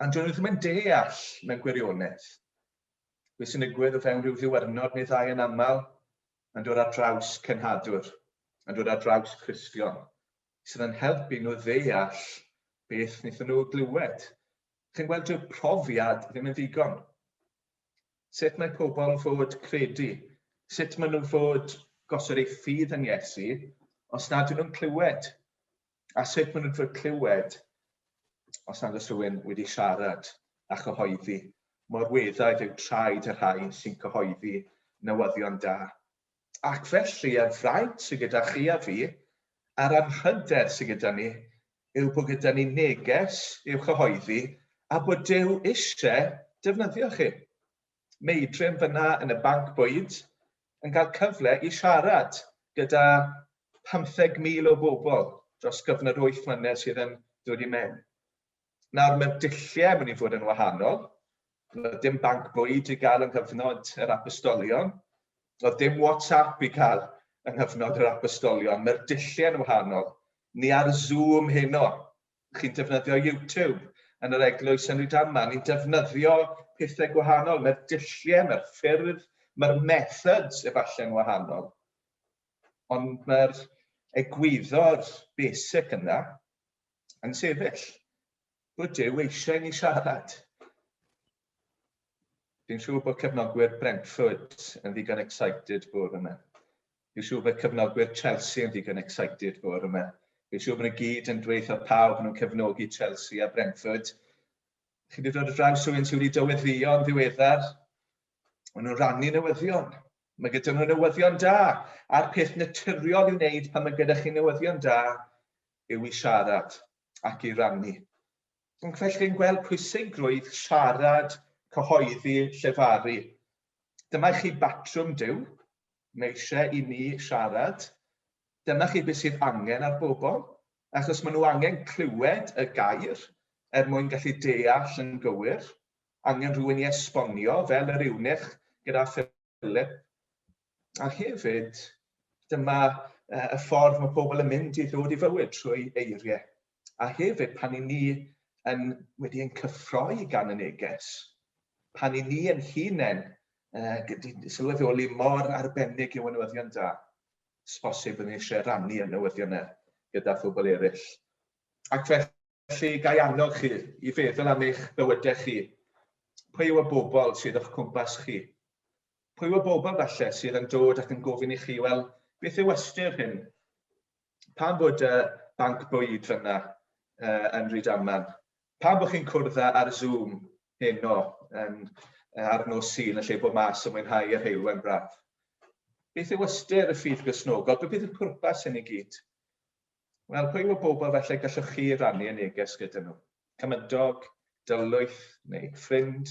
A'n dyn nhw ddim yn deall mewn gwirionedd. Beth sy'n digwydd o fewn rhyw ddiwrnod neu ddau yn aml, yn dod ar draws cenhadwr, yn dod ar draws Cristion, sydd yn helpu nhw ddeall beth wnaethon nhw glywed. Chi'n gweld, dyw'r profiad ddim yn ddigon. Sut mae pobl yn fod credu? Sut maen nhw'n fod gosod eu ffydd yn Iesu os nad ydyn nhw'n clywed a sut maen nhw'n trwy clywed os nad oes rhywun wedi siarad a chyhoeddi. Mor weddaidd yw traed y rhai sy'n cyhoeddi newyddion da. Ac felly, y fraint sydd gyda chi a fi, a'r anrhyder sydd gyda ni, yw bod gyda ni neges i'w chyhoeddi a bod Dyw eisiau defnyddio chi. Meidrim fyna yn y banc bwyd yn cael cyfle i siarad gyda 15,000 o bobl dros gyfnod wyth mlynedd sydd yn dod i mewn. Nawr mae'r dulliau yn mynd i fod yn wahanol. Roedd dim banc bwyd i gael yng nghyfnod yr apostolion. Roedd dim WhatsApp i cael yng nghyfnod yr apostolion. Mae'r dulliau yn wahanol. Ni ar Zoom heno chi'n defnyddio YouTube yn yr eglwys yn Rhydaman, ni'n defnyddio pethau gwahanol, mae'r dulliau, mae'r ffyrdd, mae'r methods efallai'n wahanol, ond mae'r egwyddor basic yna yn sefyll. Bod Dyw eisiau ni siarad. Dwi'n siŵr bod cefnogwyr Brentford yn ddigon excited bwr yma. Fi'n siŵr bydd cefnogwyr Chelsea yn ddigon excited bore 'ma. Fi'n siŵr bod nhw gyd yn dweud wrth pawb bod nhw'n cefnogi Chelsea a Brentford. Chi wedi dod ar draws rhywun sydd wedi dyweddïo yn ddiweddar. Maen nhw'n rannu newyddion. Mae gyda nhw newyddion da. A'r peth naturiol i'w wneud pan mae gyda chi newyddion da yw i siarad ac i rannu. Ac felly yn gweld pwysigrwydd siarad, cyhoeddi, llefaru. Dyma chi batrwm Duw, mae eisiau i ni siarad. Dyma chi beth sydd angen ar bobl, achos maen nhw angen clywed y gair er mwyn gallu deall yn gywir. Angen rhywun i esbonio fel yr eunuch gyda Philip. A hefyd, dyma uh, y ffordd mae pobl yn mynd i ddod i fywyd trwy eiriau. A hefyd, pan i ni yn, wedi ein cyffroi gan y neges, pan i ni yn hunain uh, sylweddoli mor arbennig yw ynwyddion da, sbosib yn eisiau rannu yn newyddion e gyda phobl eraill. Ac felly, gai annog chi i feddwl am eich bywydau chi. Pwy yw y bobl sydd o'ch cwmpas chi? Pwy yw'r bobl falle sydd yn dod ac yn gofyn i chi, wel, beth yw ystyr hyn? Pam bod y banc bwyd fyna uh, yn Rydaman? Pam bod chi'n cwrdd ar Zoom heno yn, uh, ar nos sy'n yn lle bod mas yn mwynhau yr heilwen braf? Beth yw ystyr y ffydd grisnogol? Beth yw'r pwrpas hyn i gyd? Wel, pwy yw'r bobl felly gallwch chi rannu y neges gyda nhw? Cymydog, dylwyth neu ffrind?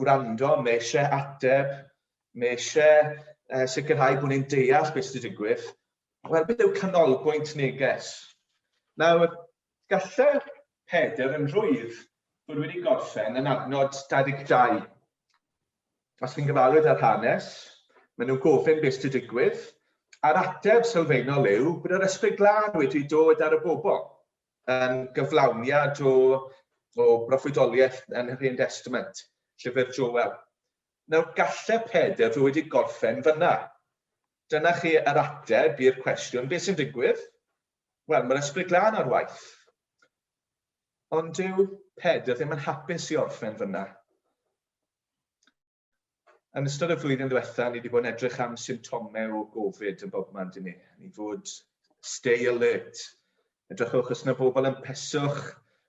gwrando, mae eisiau ateb, mae eisiau uh, sicrhau bod ni'n deall beth sydd wedi digwydd. Wel, beth yw canolbwynt neges? Nawr, gallai Pedr yn rhwydd bod wedi gorffen yn adnod 22. Os chi'n gyfarwydd â'r hanes, maen nhw'n gofyn beth sydd wedi digwydd, a'r ateb sylfaenol yw bod yr ysbryd glân wedi dod ar y bobl. yn gyflawniad o, o broffwydoliaeth yn yr Hen Testament, llyfr Joel. Nawr, galle Peder fod wedi gorffen fyna. Dyna chi yr ateb i'r cwestiwn, beth sy'n digwydd? Wel, mae'r ysbryd glân ar waith. Ond dyw Peder ddim yn hapus i orffen fyna. Yn ystod y flwyddyn ddiwetha, ni wedi bod yn edrych am symptomau o Gofid yn bobman dyn ni. Ni fod stay alert. Edrychwch os yna bobl yn peswch.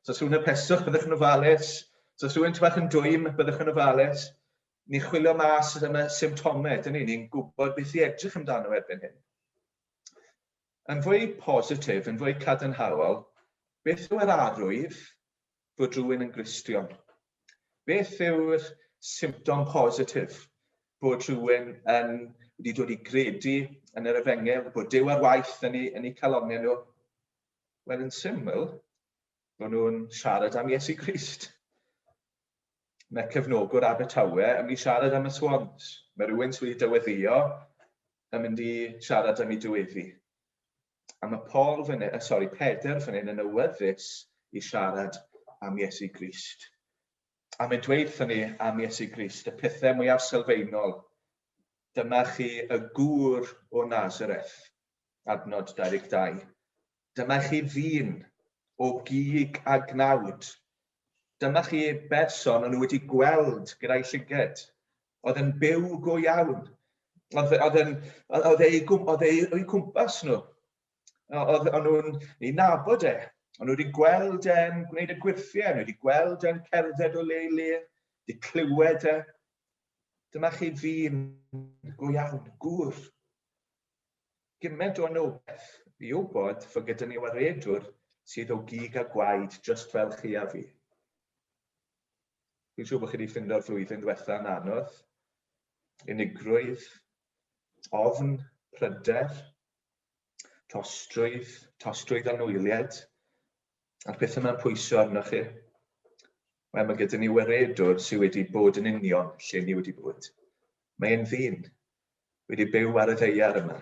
Os rhywun yn peswch, byddwch yn ofalus. Os rhywun bach yn dwym, byddwch yn ofalus. Ni chwilio mas os yna symptomau, dyn ni. Ni'n gwybod beth i edrych amdano erbyn hyn. Yn fwy positif, yn fwy cadarnhaol, beth yw yr arwydd bod rhywun yn Gristion? Beth yw'r symptom positif bod rhywun yn wedi dod i gredu yn yr efengyl, bod Dyw ar waith yn ei, yn ei calonau nhw? Wel, yn syml, bod nhw'n siarad am Iesu Grist. Mae cefnogwr Abertawe yn mynd i siarad am y swans. Mae rhywun sydd wedi dyweddio yn mynd i siarad am ei dyweddi. A mae Paul fan hyn, sorry, Peder fan hyn yn awyddus i siarad am Iesu Grist. A mae'n dweud wrthyn ni am Iesu Grist, y pethau mwyaf sylfaenol. Dyma chi y gŵr o Nazareth, adnod 22. Dyma chi ddyn o gig a gnawd. Dyma chi berson o'n nhw wedi gweld gyda'i llyged. oedd yn byw go iawn. Oedd, oedd, yn, oedd, ei, oedd ei, ei cwmpas nhw. Oedd, oedd nhw'n ei nabod e. Ond nhw wedi gweld e'n gwneud y gwirthiau, nhw wedi gweld e'n cerdded o le i le, wedi clywed e. Dyma chi ddyn go iawn, gŵr. Gymaint o anogaeth i wybod fod gyda ni waredwr sydd o gig a gwaed just fel chi a fi. Fi'n siŵr bod chi wedi ffindo'r flwyddyn diwetha yn anodd. Unigrwydd, ofn, pryder, tostrwydd, tostrwydd anwyliad, a'r pethau yma'n pwysio arnoch chi. Wel, mae gyda ni weredwr sydd wedi bod yn union lle ni wedi bod. Mae e'n ddyn, wedi byw ar y ddeiar yma,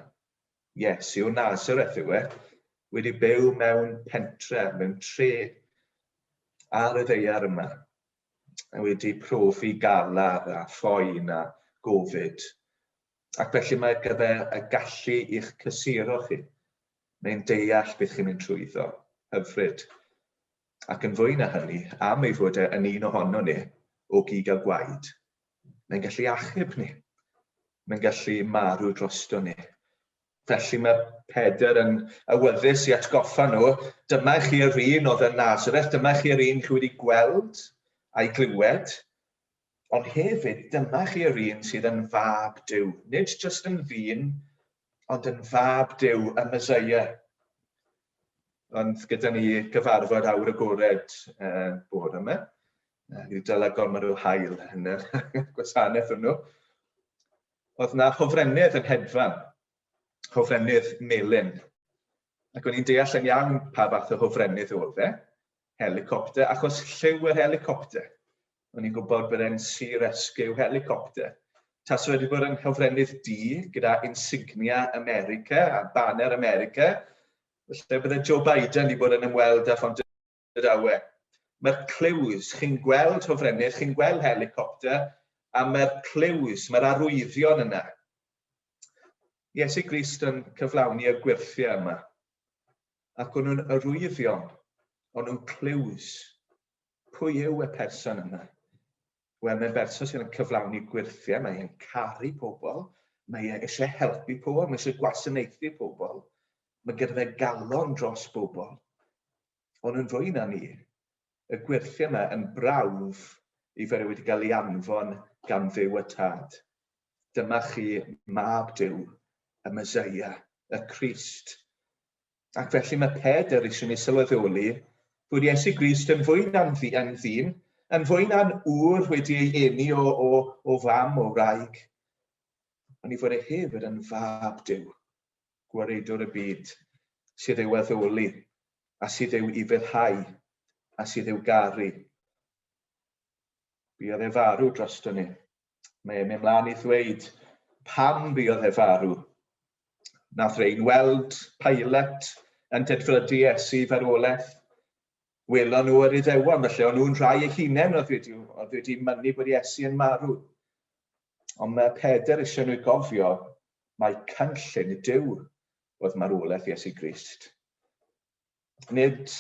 Yes, yw Nazareth yw e, wedi byw mewn pentre, mewn tre ar y ddeiar yma, a wedi profi galar a phoen a gofid. Ac felly mae ar gyfer y gallu i'ch cysuro chi, neu'n deall beth chi'n mynd trwyddo, hyfryd. Ac yn fwy na hynny, am ei fod e yn un ohono ni, o gig a gwaed, Mae'n gallu achub ni. Mae'n gallu marw drosto ni. Felly mae Peder yn awyddus i atgoffa nhw, dyma chi yr un oedd yn Nazareth, dyma chi yr un chi wedi gweld a'i glywed, ond hefyd dyma chi yr un sydd yn fab Dyw, nid jyst yn ddyn, ond yn fab Duw, y Mesoea. Ond gyda ni gyfarfod awr agored uh, bod yma. Uh, Rhyw dylai gormod o hael yn y gwasanaeth hwnnw. Oedd na hofrennydd yn hedfan, hofrennydd melyn. Ac o'n i'n deall yn iawn pa fath o hofrennydd oedd e. helicopter, achos lliw yr helicopter. O'n i'n gwybod bod e'n Sea Rescue helicopter. Taso wedi bod yn hofrennydd di gyda insignia America a banner America, felly bydde Joe Biden wedi bod yn ymweld â Phont yr Awe. Mae'r clyws, chi'n gweld hofrennydd, chi'n gweld helicopter, a mae'r clyws, mae'r arwyddion yna. Iesu Grist yn cyflawni y gwirthiau yma. ac o'n nhw'n arwyddion, o'n nhw'n clues. Pwy yw y person yna? Wel, mae'n berson sydd yn cyflawni gwirthiau, mae e'n caru pobl, mae e eisiau helpu pobl, mae eisiau gwasanaethu pobl, mae gyda fe galon dros bobl. Ond yn fwy na ni, y gwirthiau yma yn brawf i fod e wedi cael ei anfon gan fyw y tad. Dyma chi Mab Duw, y Meseia, y Crist. Ac felly mae Pedr eisiau ni sylweddoli bod Iesu Grist yn fwy na'n ddyn, yn fwy na'n ŵr wedi ei eni o, o, o fam o wraig, ond i fod e hefyd yn fab Dyw, gwaredwr y byd, sydd ei waddoli, a sydd ei ufelhau, a sydd ei garu. Buodd e farw drosto ni. mae e'n mynd mlaen i ddweud pam buodd e farw. Nath rhain weld Pilate yn dedfrydu Iesu farwolaeth. Welon nhw yr iddewon, felly o'n nhw'n rhai eich hunain oedd wedi, oedd wedi mynnu bod Iesu yn marw. Ond mae Peder eisiau nhw gofio mae cynllun y Dyw oedd marwolaeth Iesu Grist. nid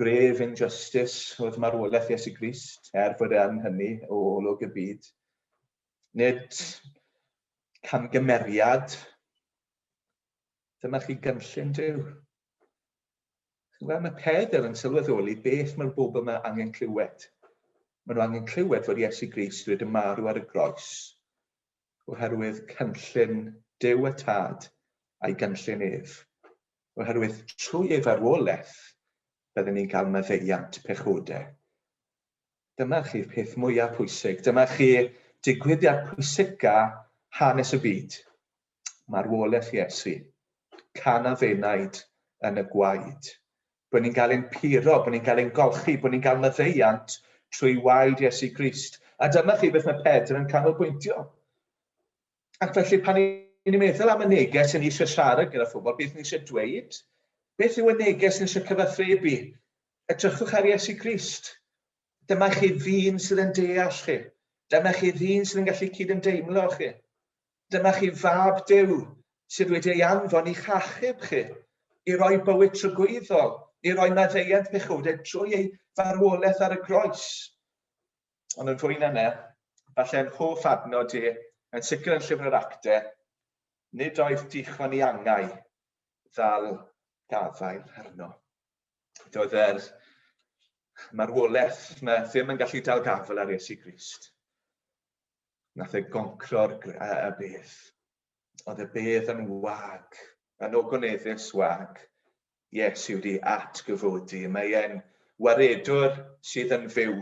gref injustice oedd marwolaeth Iesu Grist, er fod e yn hynny o olwg y byd. Nid camgymeriad. Dyma chi gynllun Dyw. Wel, mae Pedr yn sylweddoli beth mae'r bobl yma angen clywed. Mae nhw angen clywed fod Iesu Grist wedi marw ar y groes oherwydd cynllun Dyw y Tad a'i gynllun ef. oherwydd trwy ei farwolaeth bydden ni'n cael maddeuant pechodau. Dyma chi'r peth mwyaf pwysig. Dyma chi digwyddiad pwysica hanes y byd. Marwolaeth Iesu. Can a fenaid yn y gwaed. Bod ni'n cael ein puro, bod ni'n cael ein golchi, bod ni'n cael maddeuant trwy waed Iesu Grist. A dyma chi beth mae Pedr yn canolbwyntio. ac felly pan ni'n meddwl am y neges yn eisiau siarad gyda phobl, beth ni eisiau dweud, beth yw y neges ni eisiau cyfathrebu? Edrychwch ar Iesu Grist. Dyma chi ddyn sydd yn deall chi. Dyma chi ddyn sydd yn gallu cyd yn deimlo chi. Dyma chi fab dew sydd wedi ei anfon i'ch achub chi, i roi bywyd trygwyddol, i roi maddeuant pechowdau trwy ei farwolaeth ar y groes. ond yn fwy na ne, falle yn hoff adnod i, yn sicr yn llyfr yr acte, nid oedd dichwan i angau ddal gafael arno. Doedd yr marwolaeth yma ddim yn gallu dal gafael ar Iesu Grist. Nath e goncro'r y beth. Oedd y bedd yn wag, yn ogoneddus wag. Iesu wedi atgyfodi. Mae e'n waredwr sydd yn fyw.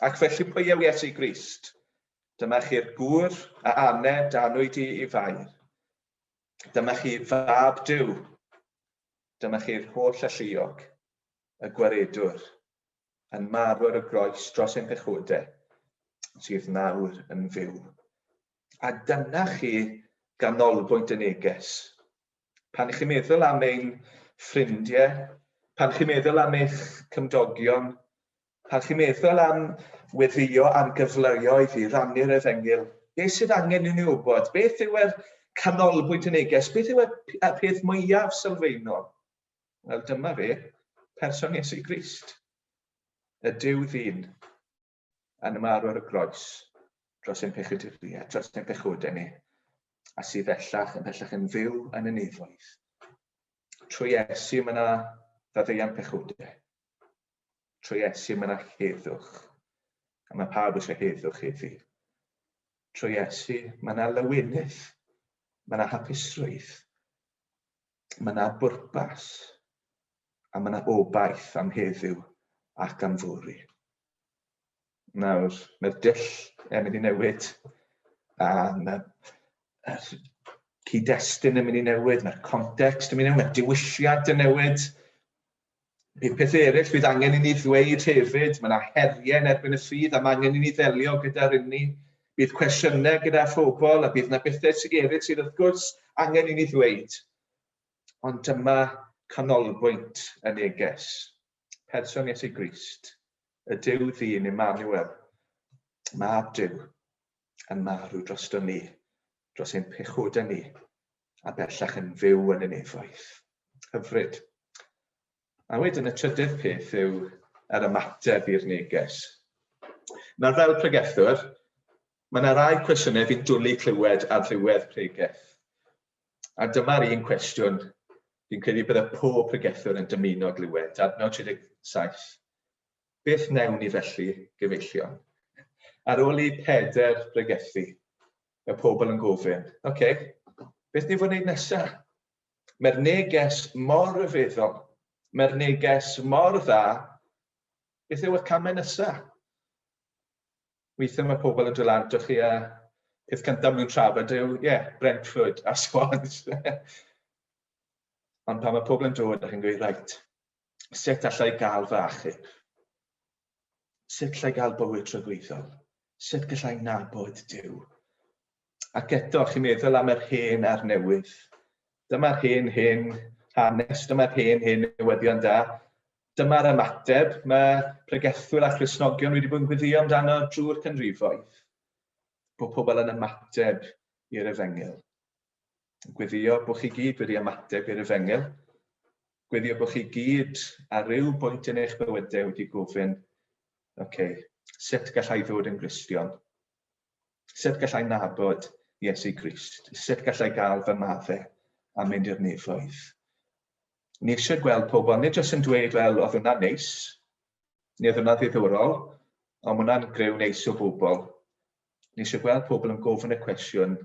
Ac felly pwy yw Iesu Grist? Dyma chi'r gŵr a ane danwyd i i fair. Dyma chi fab Dyw. Dyma chi'r holl alluog, y gwaredwr, yn marw ar y groes dros ein pechodau, sydd nawr yn fyw. A dyna chi ganolbwynt y neges. Pan chi'n meddwl am ein ffrindiau, pan chi'n meddwl am eich cymdogion, pan chi'n meddwl am weddio am gyfleoedd i rannu'r efengyl, beth sydd angen i ni wybod? Beth yw'r canolbwynt y neges? Beth yw'r peth mwyaf sylfaenol? Wel, dyma fe, person Iesu Grist, y Dyw ddyn. yn ymarw ar y groes dros ein pechyduriaid, dros ein pechodau ni, a sydd bellach yn bellach yn fyw yn y nefoedd. Trwy Iesu mae yna faddeuant pechodau. Trwy Iesu mae yna heddwch, a mae pawb eisiau heddwch heddi. Trwy Iesu mae yna lywinydd, mae yna hapusrwydd, mae yna bwrpas, a mae yna obaith am heddiw ac am fori. Nawr, mae'r dull yn mynd i newid, a mae'r cyd-destun yn mynd i newid, mae'r context yn mynd i newid, mae'r diwylliant yn newid. Bydd pethau eraill fydd angen i ni ddweud hefyd, mae yna heriau yn erbyn y ffydd a mae angen i ni ddelio gyda'r inni. Bydd cwestiynau gyda phobl a bydd yna bethau sy'n eraill sydd wrth gwrs angen i ni ddweud. Ond dyma canolbwynt y neges. Person Iesu Grist, y Duw ddyn Emmanuel, mab Duw, yn marw drosto ni, dros ein pechodau ni, a bellach yn fyw yn y nefoedd. Hyfryd. A wedyn y trydydd peth yw yr ymateb i'r neges. Nawr fel pregethwr, mae yna rai cwestiynau fi'n dwlu clywed ar ddiwedd pregeth. A dyma'r un cwestiwn fi'n credu bydde pob pregethwr yn dymuno glywed, adnod 37. Beth wnewn ni felly, gyfeillion? Ar ôl i Peder bregethu, y pobl yn gofyn, oce, okay, beth ni fod wneud nesaf? Mae'r neges mor ryfeddol, mae'r neges mor dda, beth yw y camau nesaf? weithiau mae pobl yn dod ardo chi a peth cyntaf maen nhw'n trafod yw, ie, yeah, Brentford a Swans. Ond pan mae pobl yn dod, ydych chi'n gweud, rhaid, sut allai gael fy achub? Sut allai gael bywyd tragwyddol? Sut gallai nabod Dyw? Ac eto, chi'n meddwl am yr hen a'r newydd. Dyma'r hen, hen hanes, dyma'r hen, hen newyddion da. Dyma'r ymateb mae pregethwyr a Christnogion wedi bod yn gweddio amdano drwy'r canrifoedd. Bod pobl yn ymateb i'r efengyl. Gweddio bod chi gyd wedi ymateb i'r efengyl. Gweddio bod chi gyd ar ryw bwynt yn eich bywydau wedi gofyn, oce, okay, sut gallai ddod yn Gristion? Sut gallai nabod Iesu Grist? Sut gallai gael fy maddau a mynd i'r nefoedd? Ni eisiau gweld pobl, nid jyst yn dweud, wel, oedd hwnna'n neis, neu oedd hwnna'n ddiddorol, ond hwnna'n greu neis o bobl. Ni eisiau gweld pobl yn gofyn y cwestiwn,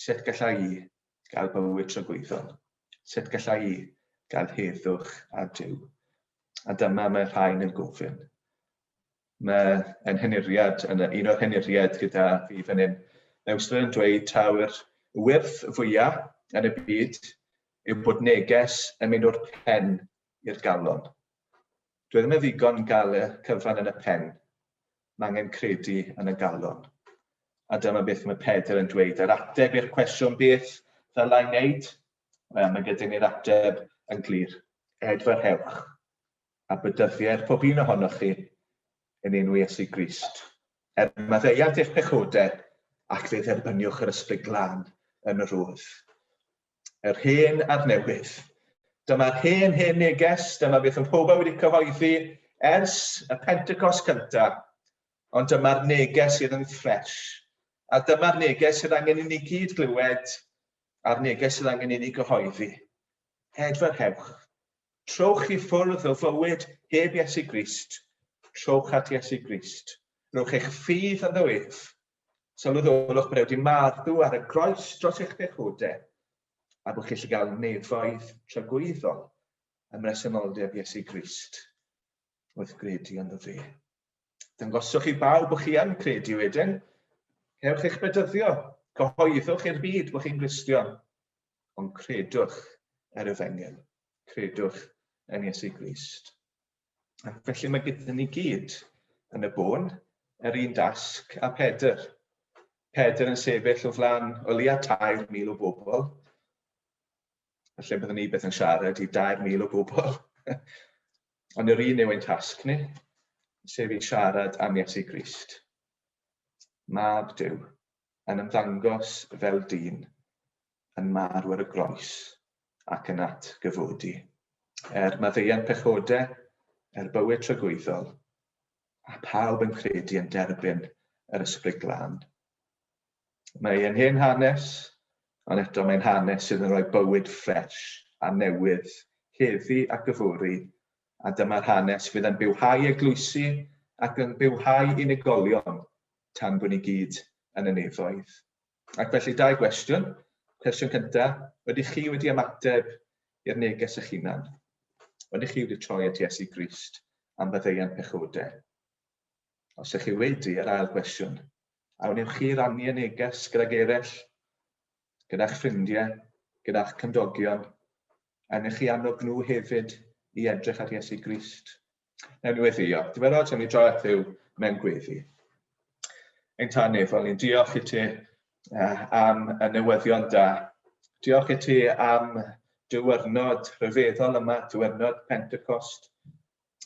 sut gallai i gael bywyd tragwyddol? Sut gallai i gael heddwch a Dyw? A dyma mae rhain yn gofyn. Mae ein henuriad, yn un o'r henuriaid gyda fi fan hyn, Newsler yn dweud taw'r wyrth fwyaf yn y byd yw bod neges yn mynd o'r pen i'r galon. Dwi ddim yn ddigon gael y cyfan yn y pen, mae angen credu yn y galon. A dyma beth mae Pedr yn dweud, yr ateb i'r cwestiwn beth ddylai wneud, mae gyda ni'r ateb yn glir, edfarhewch. a bydyddiaeth pob un ohonoch chi yn enw Iesu Grist. Er maddeuant eich pechodau, ac fe dderbyniwch yr ysbryd glân yn yr oedd. Yr hen a'r newydd. Dyma'r hen hen neges, dyma beth yn pobau wedi cyhoeddi ers y Pentecost cyntaf, ond dyma'r neges sydd yn ffres. A dyma'r neges sydd angen i ni gyd glywed, a'r neges sydd angen i ni gyhoeddi. Hedferhewch, Trowch i ffwrdd o fywyd heb Iesu Grist, trowch at Iesu Grist. Rhowch eich ffydd ynddo ef. Sylweddolwch bod e wedi marw ar y groes dros eich pechodau, a bod chi'n gallu gael nefoedd tragwyddol ym mresenoldeb Iesu Grist wrth gredu ynddo fe. Dyngoswch i bawb bod chi yn credu wedyn, cewch eich bedyddio, cyhoeddwch i'r byd bod chi'n Gristion, ond credwch yr efengyl, credwch yn Iesu Grist. Ac felly mae gyda ni gyd yn y bôn yr un dasg a Pedr. Pedr yn sefyll o flan o leia 3,000 o bobl. Felly byddwn ni beth yn siarad i 3,000 o bobl. Ond yr un yw ein tasg ni, sef i siarad am Iesu Grist. Mab Dyw, yn ymddangos fel dyn yn marw ar y groes ac yn atgyfodi, er maddeuant pechode, er bywyd tragwyddol, a phawb yn credu yn derbyn yr Ysbryd Glân. Mae e'n hen hanes, ond eto mae'n hanes sydd yn rhoi bywyd ffresh a newydd heddi ac yfory A dyma'r hanes fydd yn bywhau eglwysi ac yn bywhau unigolion tan bo ni gyd yn y nefoedd. Ac felly, dau gwestiwn. Cwestiwn cynta, ydych chi wedi ymateb i'r neges eich hunan? Ydych chi wedi troi at Iesu Grist am faddeuant pechodau? Os ych chi wedi, yr ail gwestiwn, a wnewch chi rannu y neges gydag eraill, gyda'ch ffrindiau, gyda'ch cymdogion, A wnewch chi annog nhw hefyd i edrych ar Iesu Grist. Newn ni weddio. Dywedodd yn ei dro at Dduw mewn gweddi. Ein tan nefol, ni'n diolch i ti uh, am y newyddion da. Diolch i ti am diwrnod rhyfeddol yma, diwrnod Pentecost.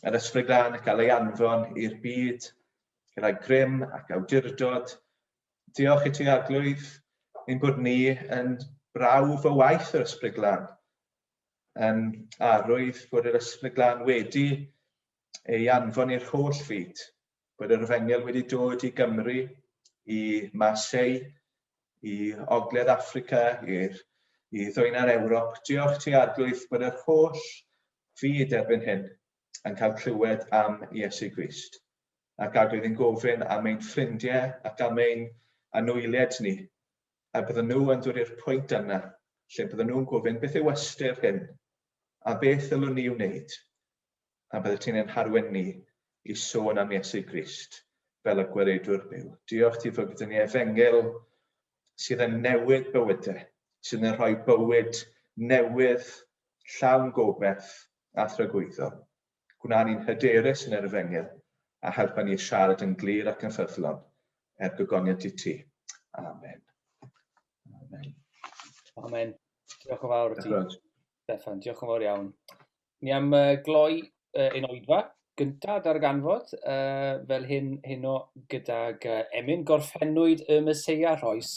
Yr ysbryd lan y cael ei anfon i'r byd, gyda grym ac awdurdod, Diolch i ti Arglwydd ein bod ni yn brawf o waith yr Ysbryd Glân. Um, a rwydd bod yr Ysbryd Glân wedi ei anfon i'r holl fyd, bod yr efengyl wedi dod i Gymru, i Marseille, i Ogledd Africa, i'r i ddwyn ar Ewrop. Diolch ti Arglwydd bod yr holl fyd erbyn hyn yn cael clywed am Iesu Grist. a gad oedd yn gofyn am ein ffrindiau ac am ein anwyliaid ni, a bydden nhw yn dod i'r pwynt yna lle bydden nhw'n gofyn beth yw ystyr hyn, a beth ddylwn ni wneud, a bydde ti'n ein harwen ni i sôn am Iesu Grist fel y gweredwr byw. Diolch ti fod gyda ni efengyl sydd yn newid bywydau, sydd yn rhoi bywyd newydd, llawn gobeith a thragwyddo. Gwna ni'n hyderus yn yr Efengyl, a helpa ni i siarad yn glir ac yn ffyddlon, er gogoniant i ti. Amen. Amen. Amen. Diolch yn fawr i ti. Stefan, diolch yn fawr iawn. Ni am uh, gloi uh, ein oedfa gyntaf darganfod uh, fel hyn heno gydag uh, Emyn gorffennwyd y Meseia Rhoes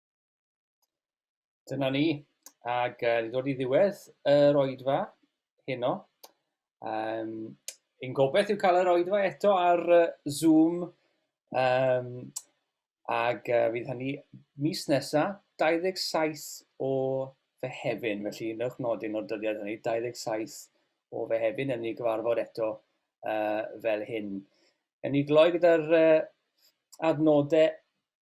Dyna ni, ac uh, ni dod i ddiwedd yr oedfa heno. Um, yn gobeith yw cael yr oedfa eto ar uh, Zoom, um, ac uh, fydd hynny mis nesa, 27 o Fehefin, felly newch nodyn o'r dyddiad hynny, 27 o Fehefin, yn ni gyfarfod eto uh, fel hyn. Yn ni gloi gyda'r uh, adnodau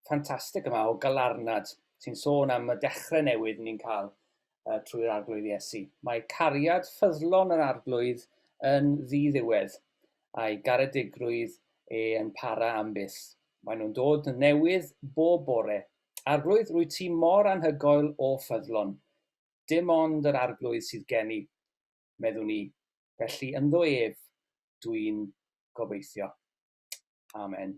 ffantastig yma o galarnad sy'n sôn am y dechrau newydd ni'n cael uh, trwy'r arglwydd Iesu. Mae cariad ffyddlon yr arglwydd yn ddiddiwedd, a'i garedigrwydd e yn para am byth. Mae nhw'n dod yn newydd bob bore. Arglwydd, rwy ti mor anhygoel o ffyddlon. Dim ond yr arglwydd sydd gen i, meddwn ni. Felly ynddo ef dwi'n gobeithio. Amen.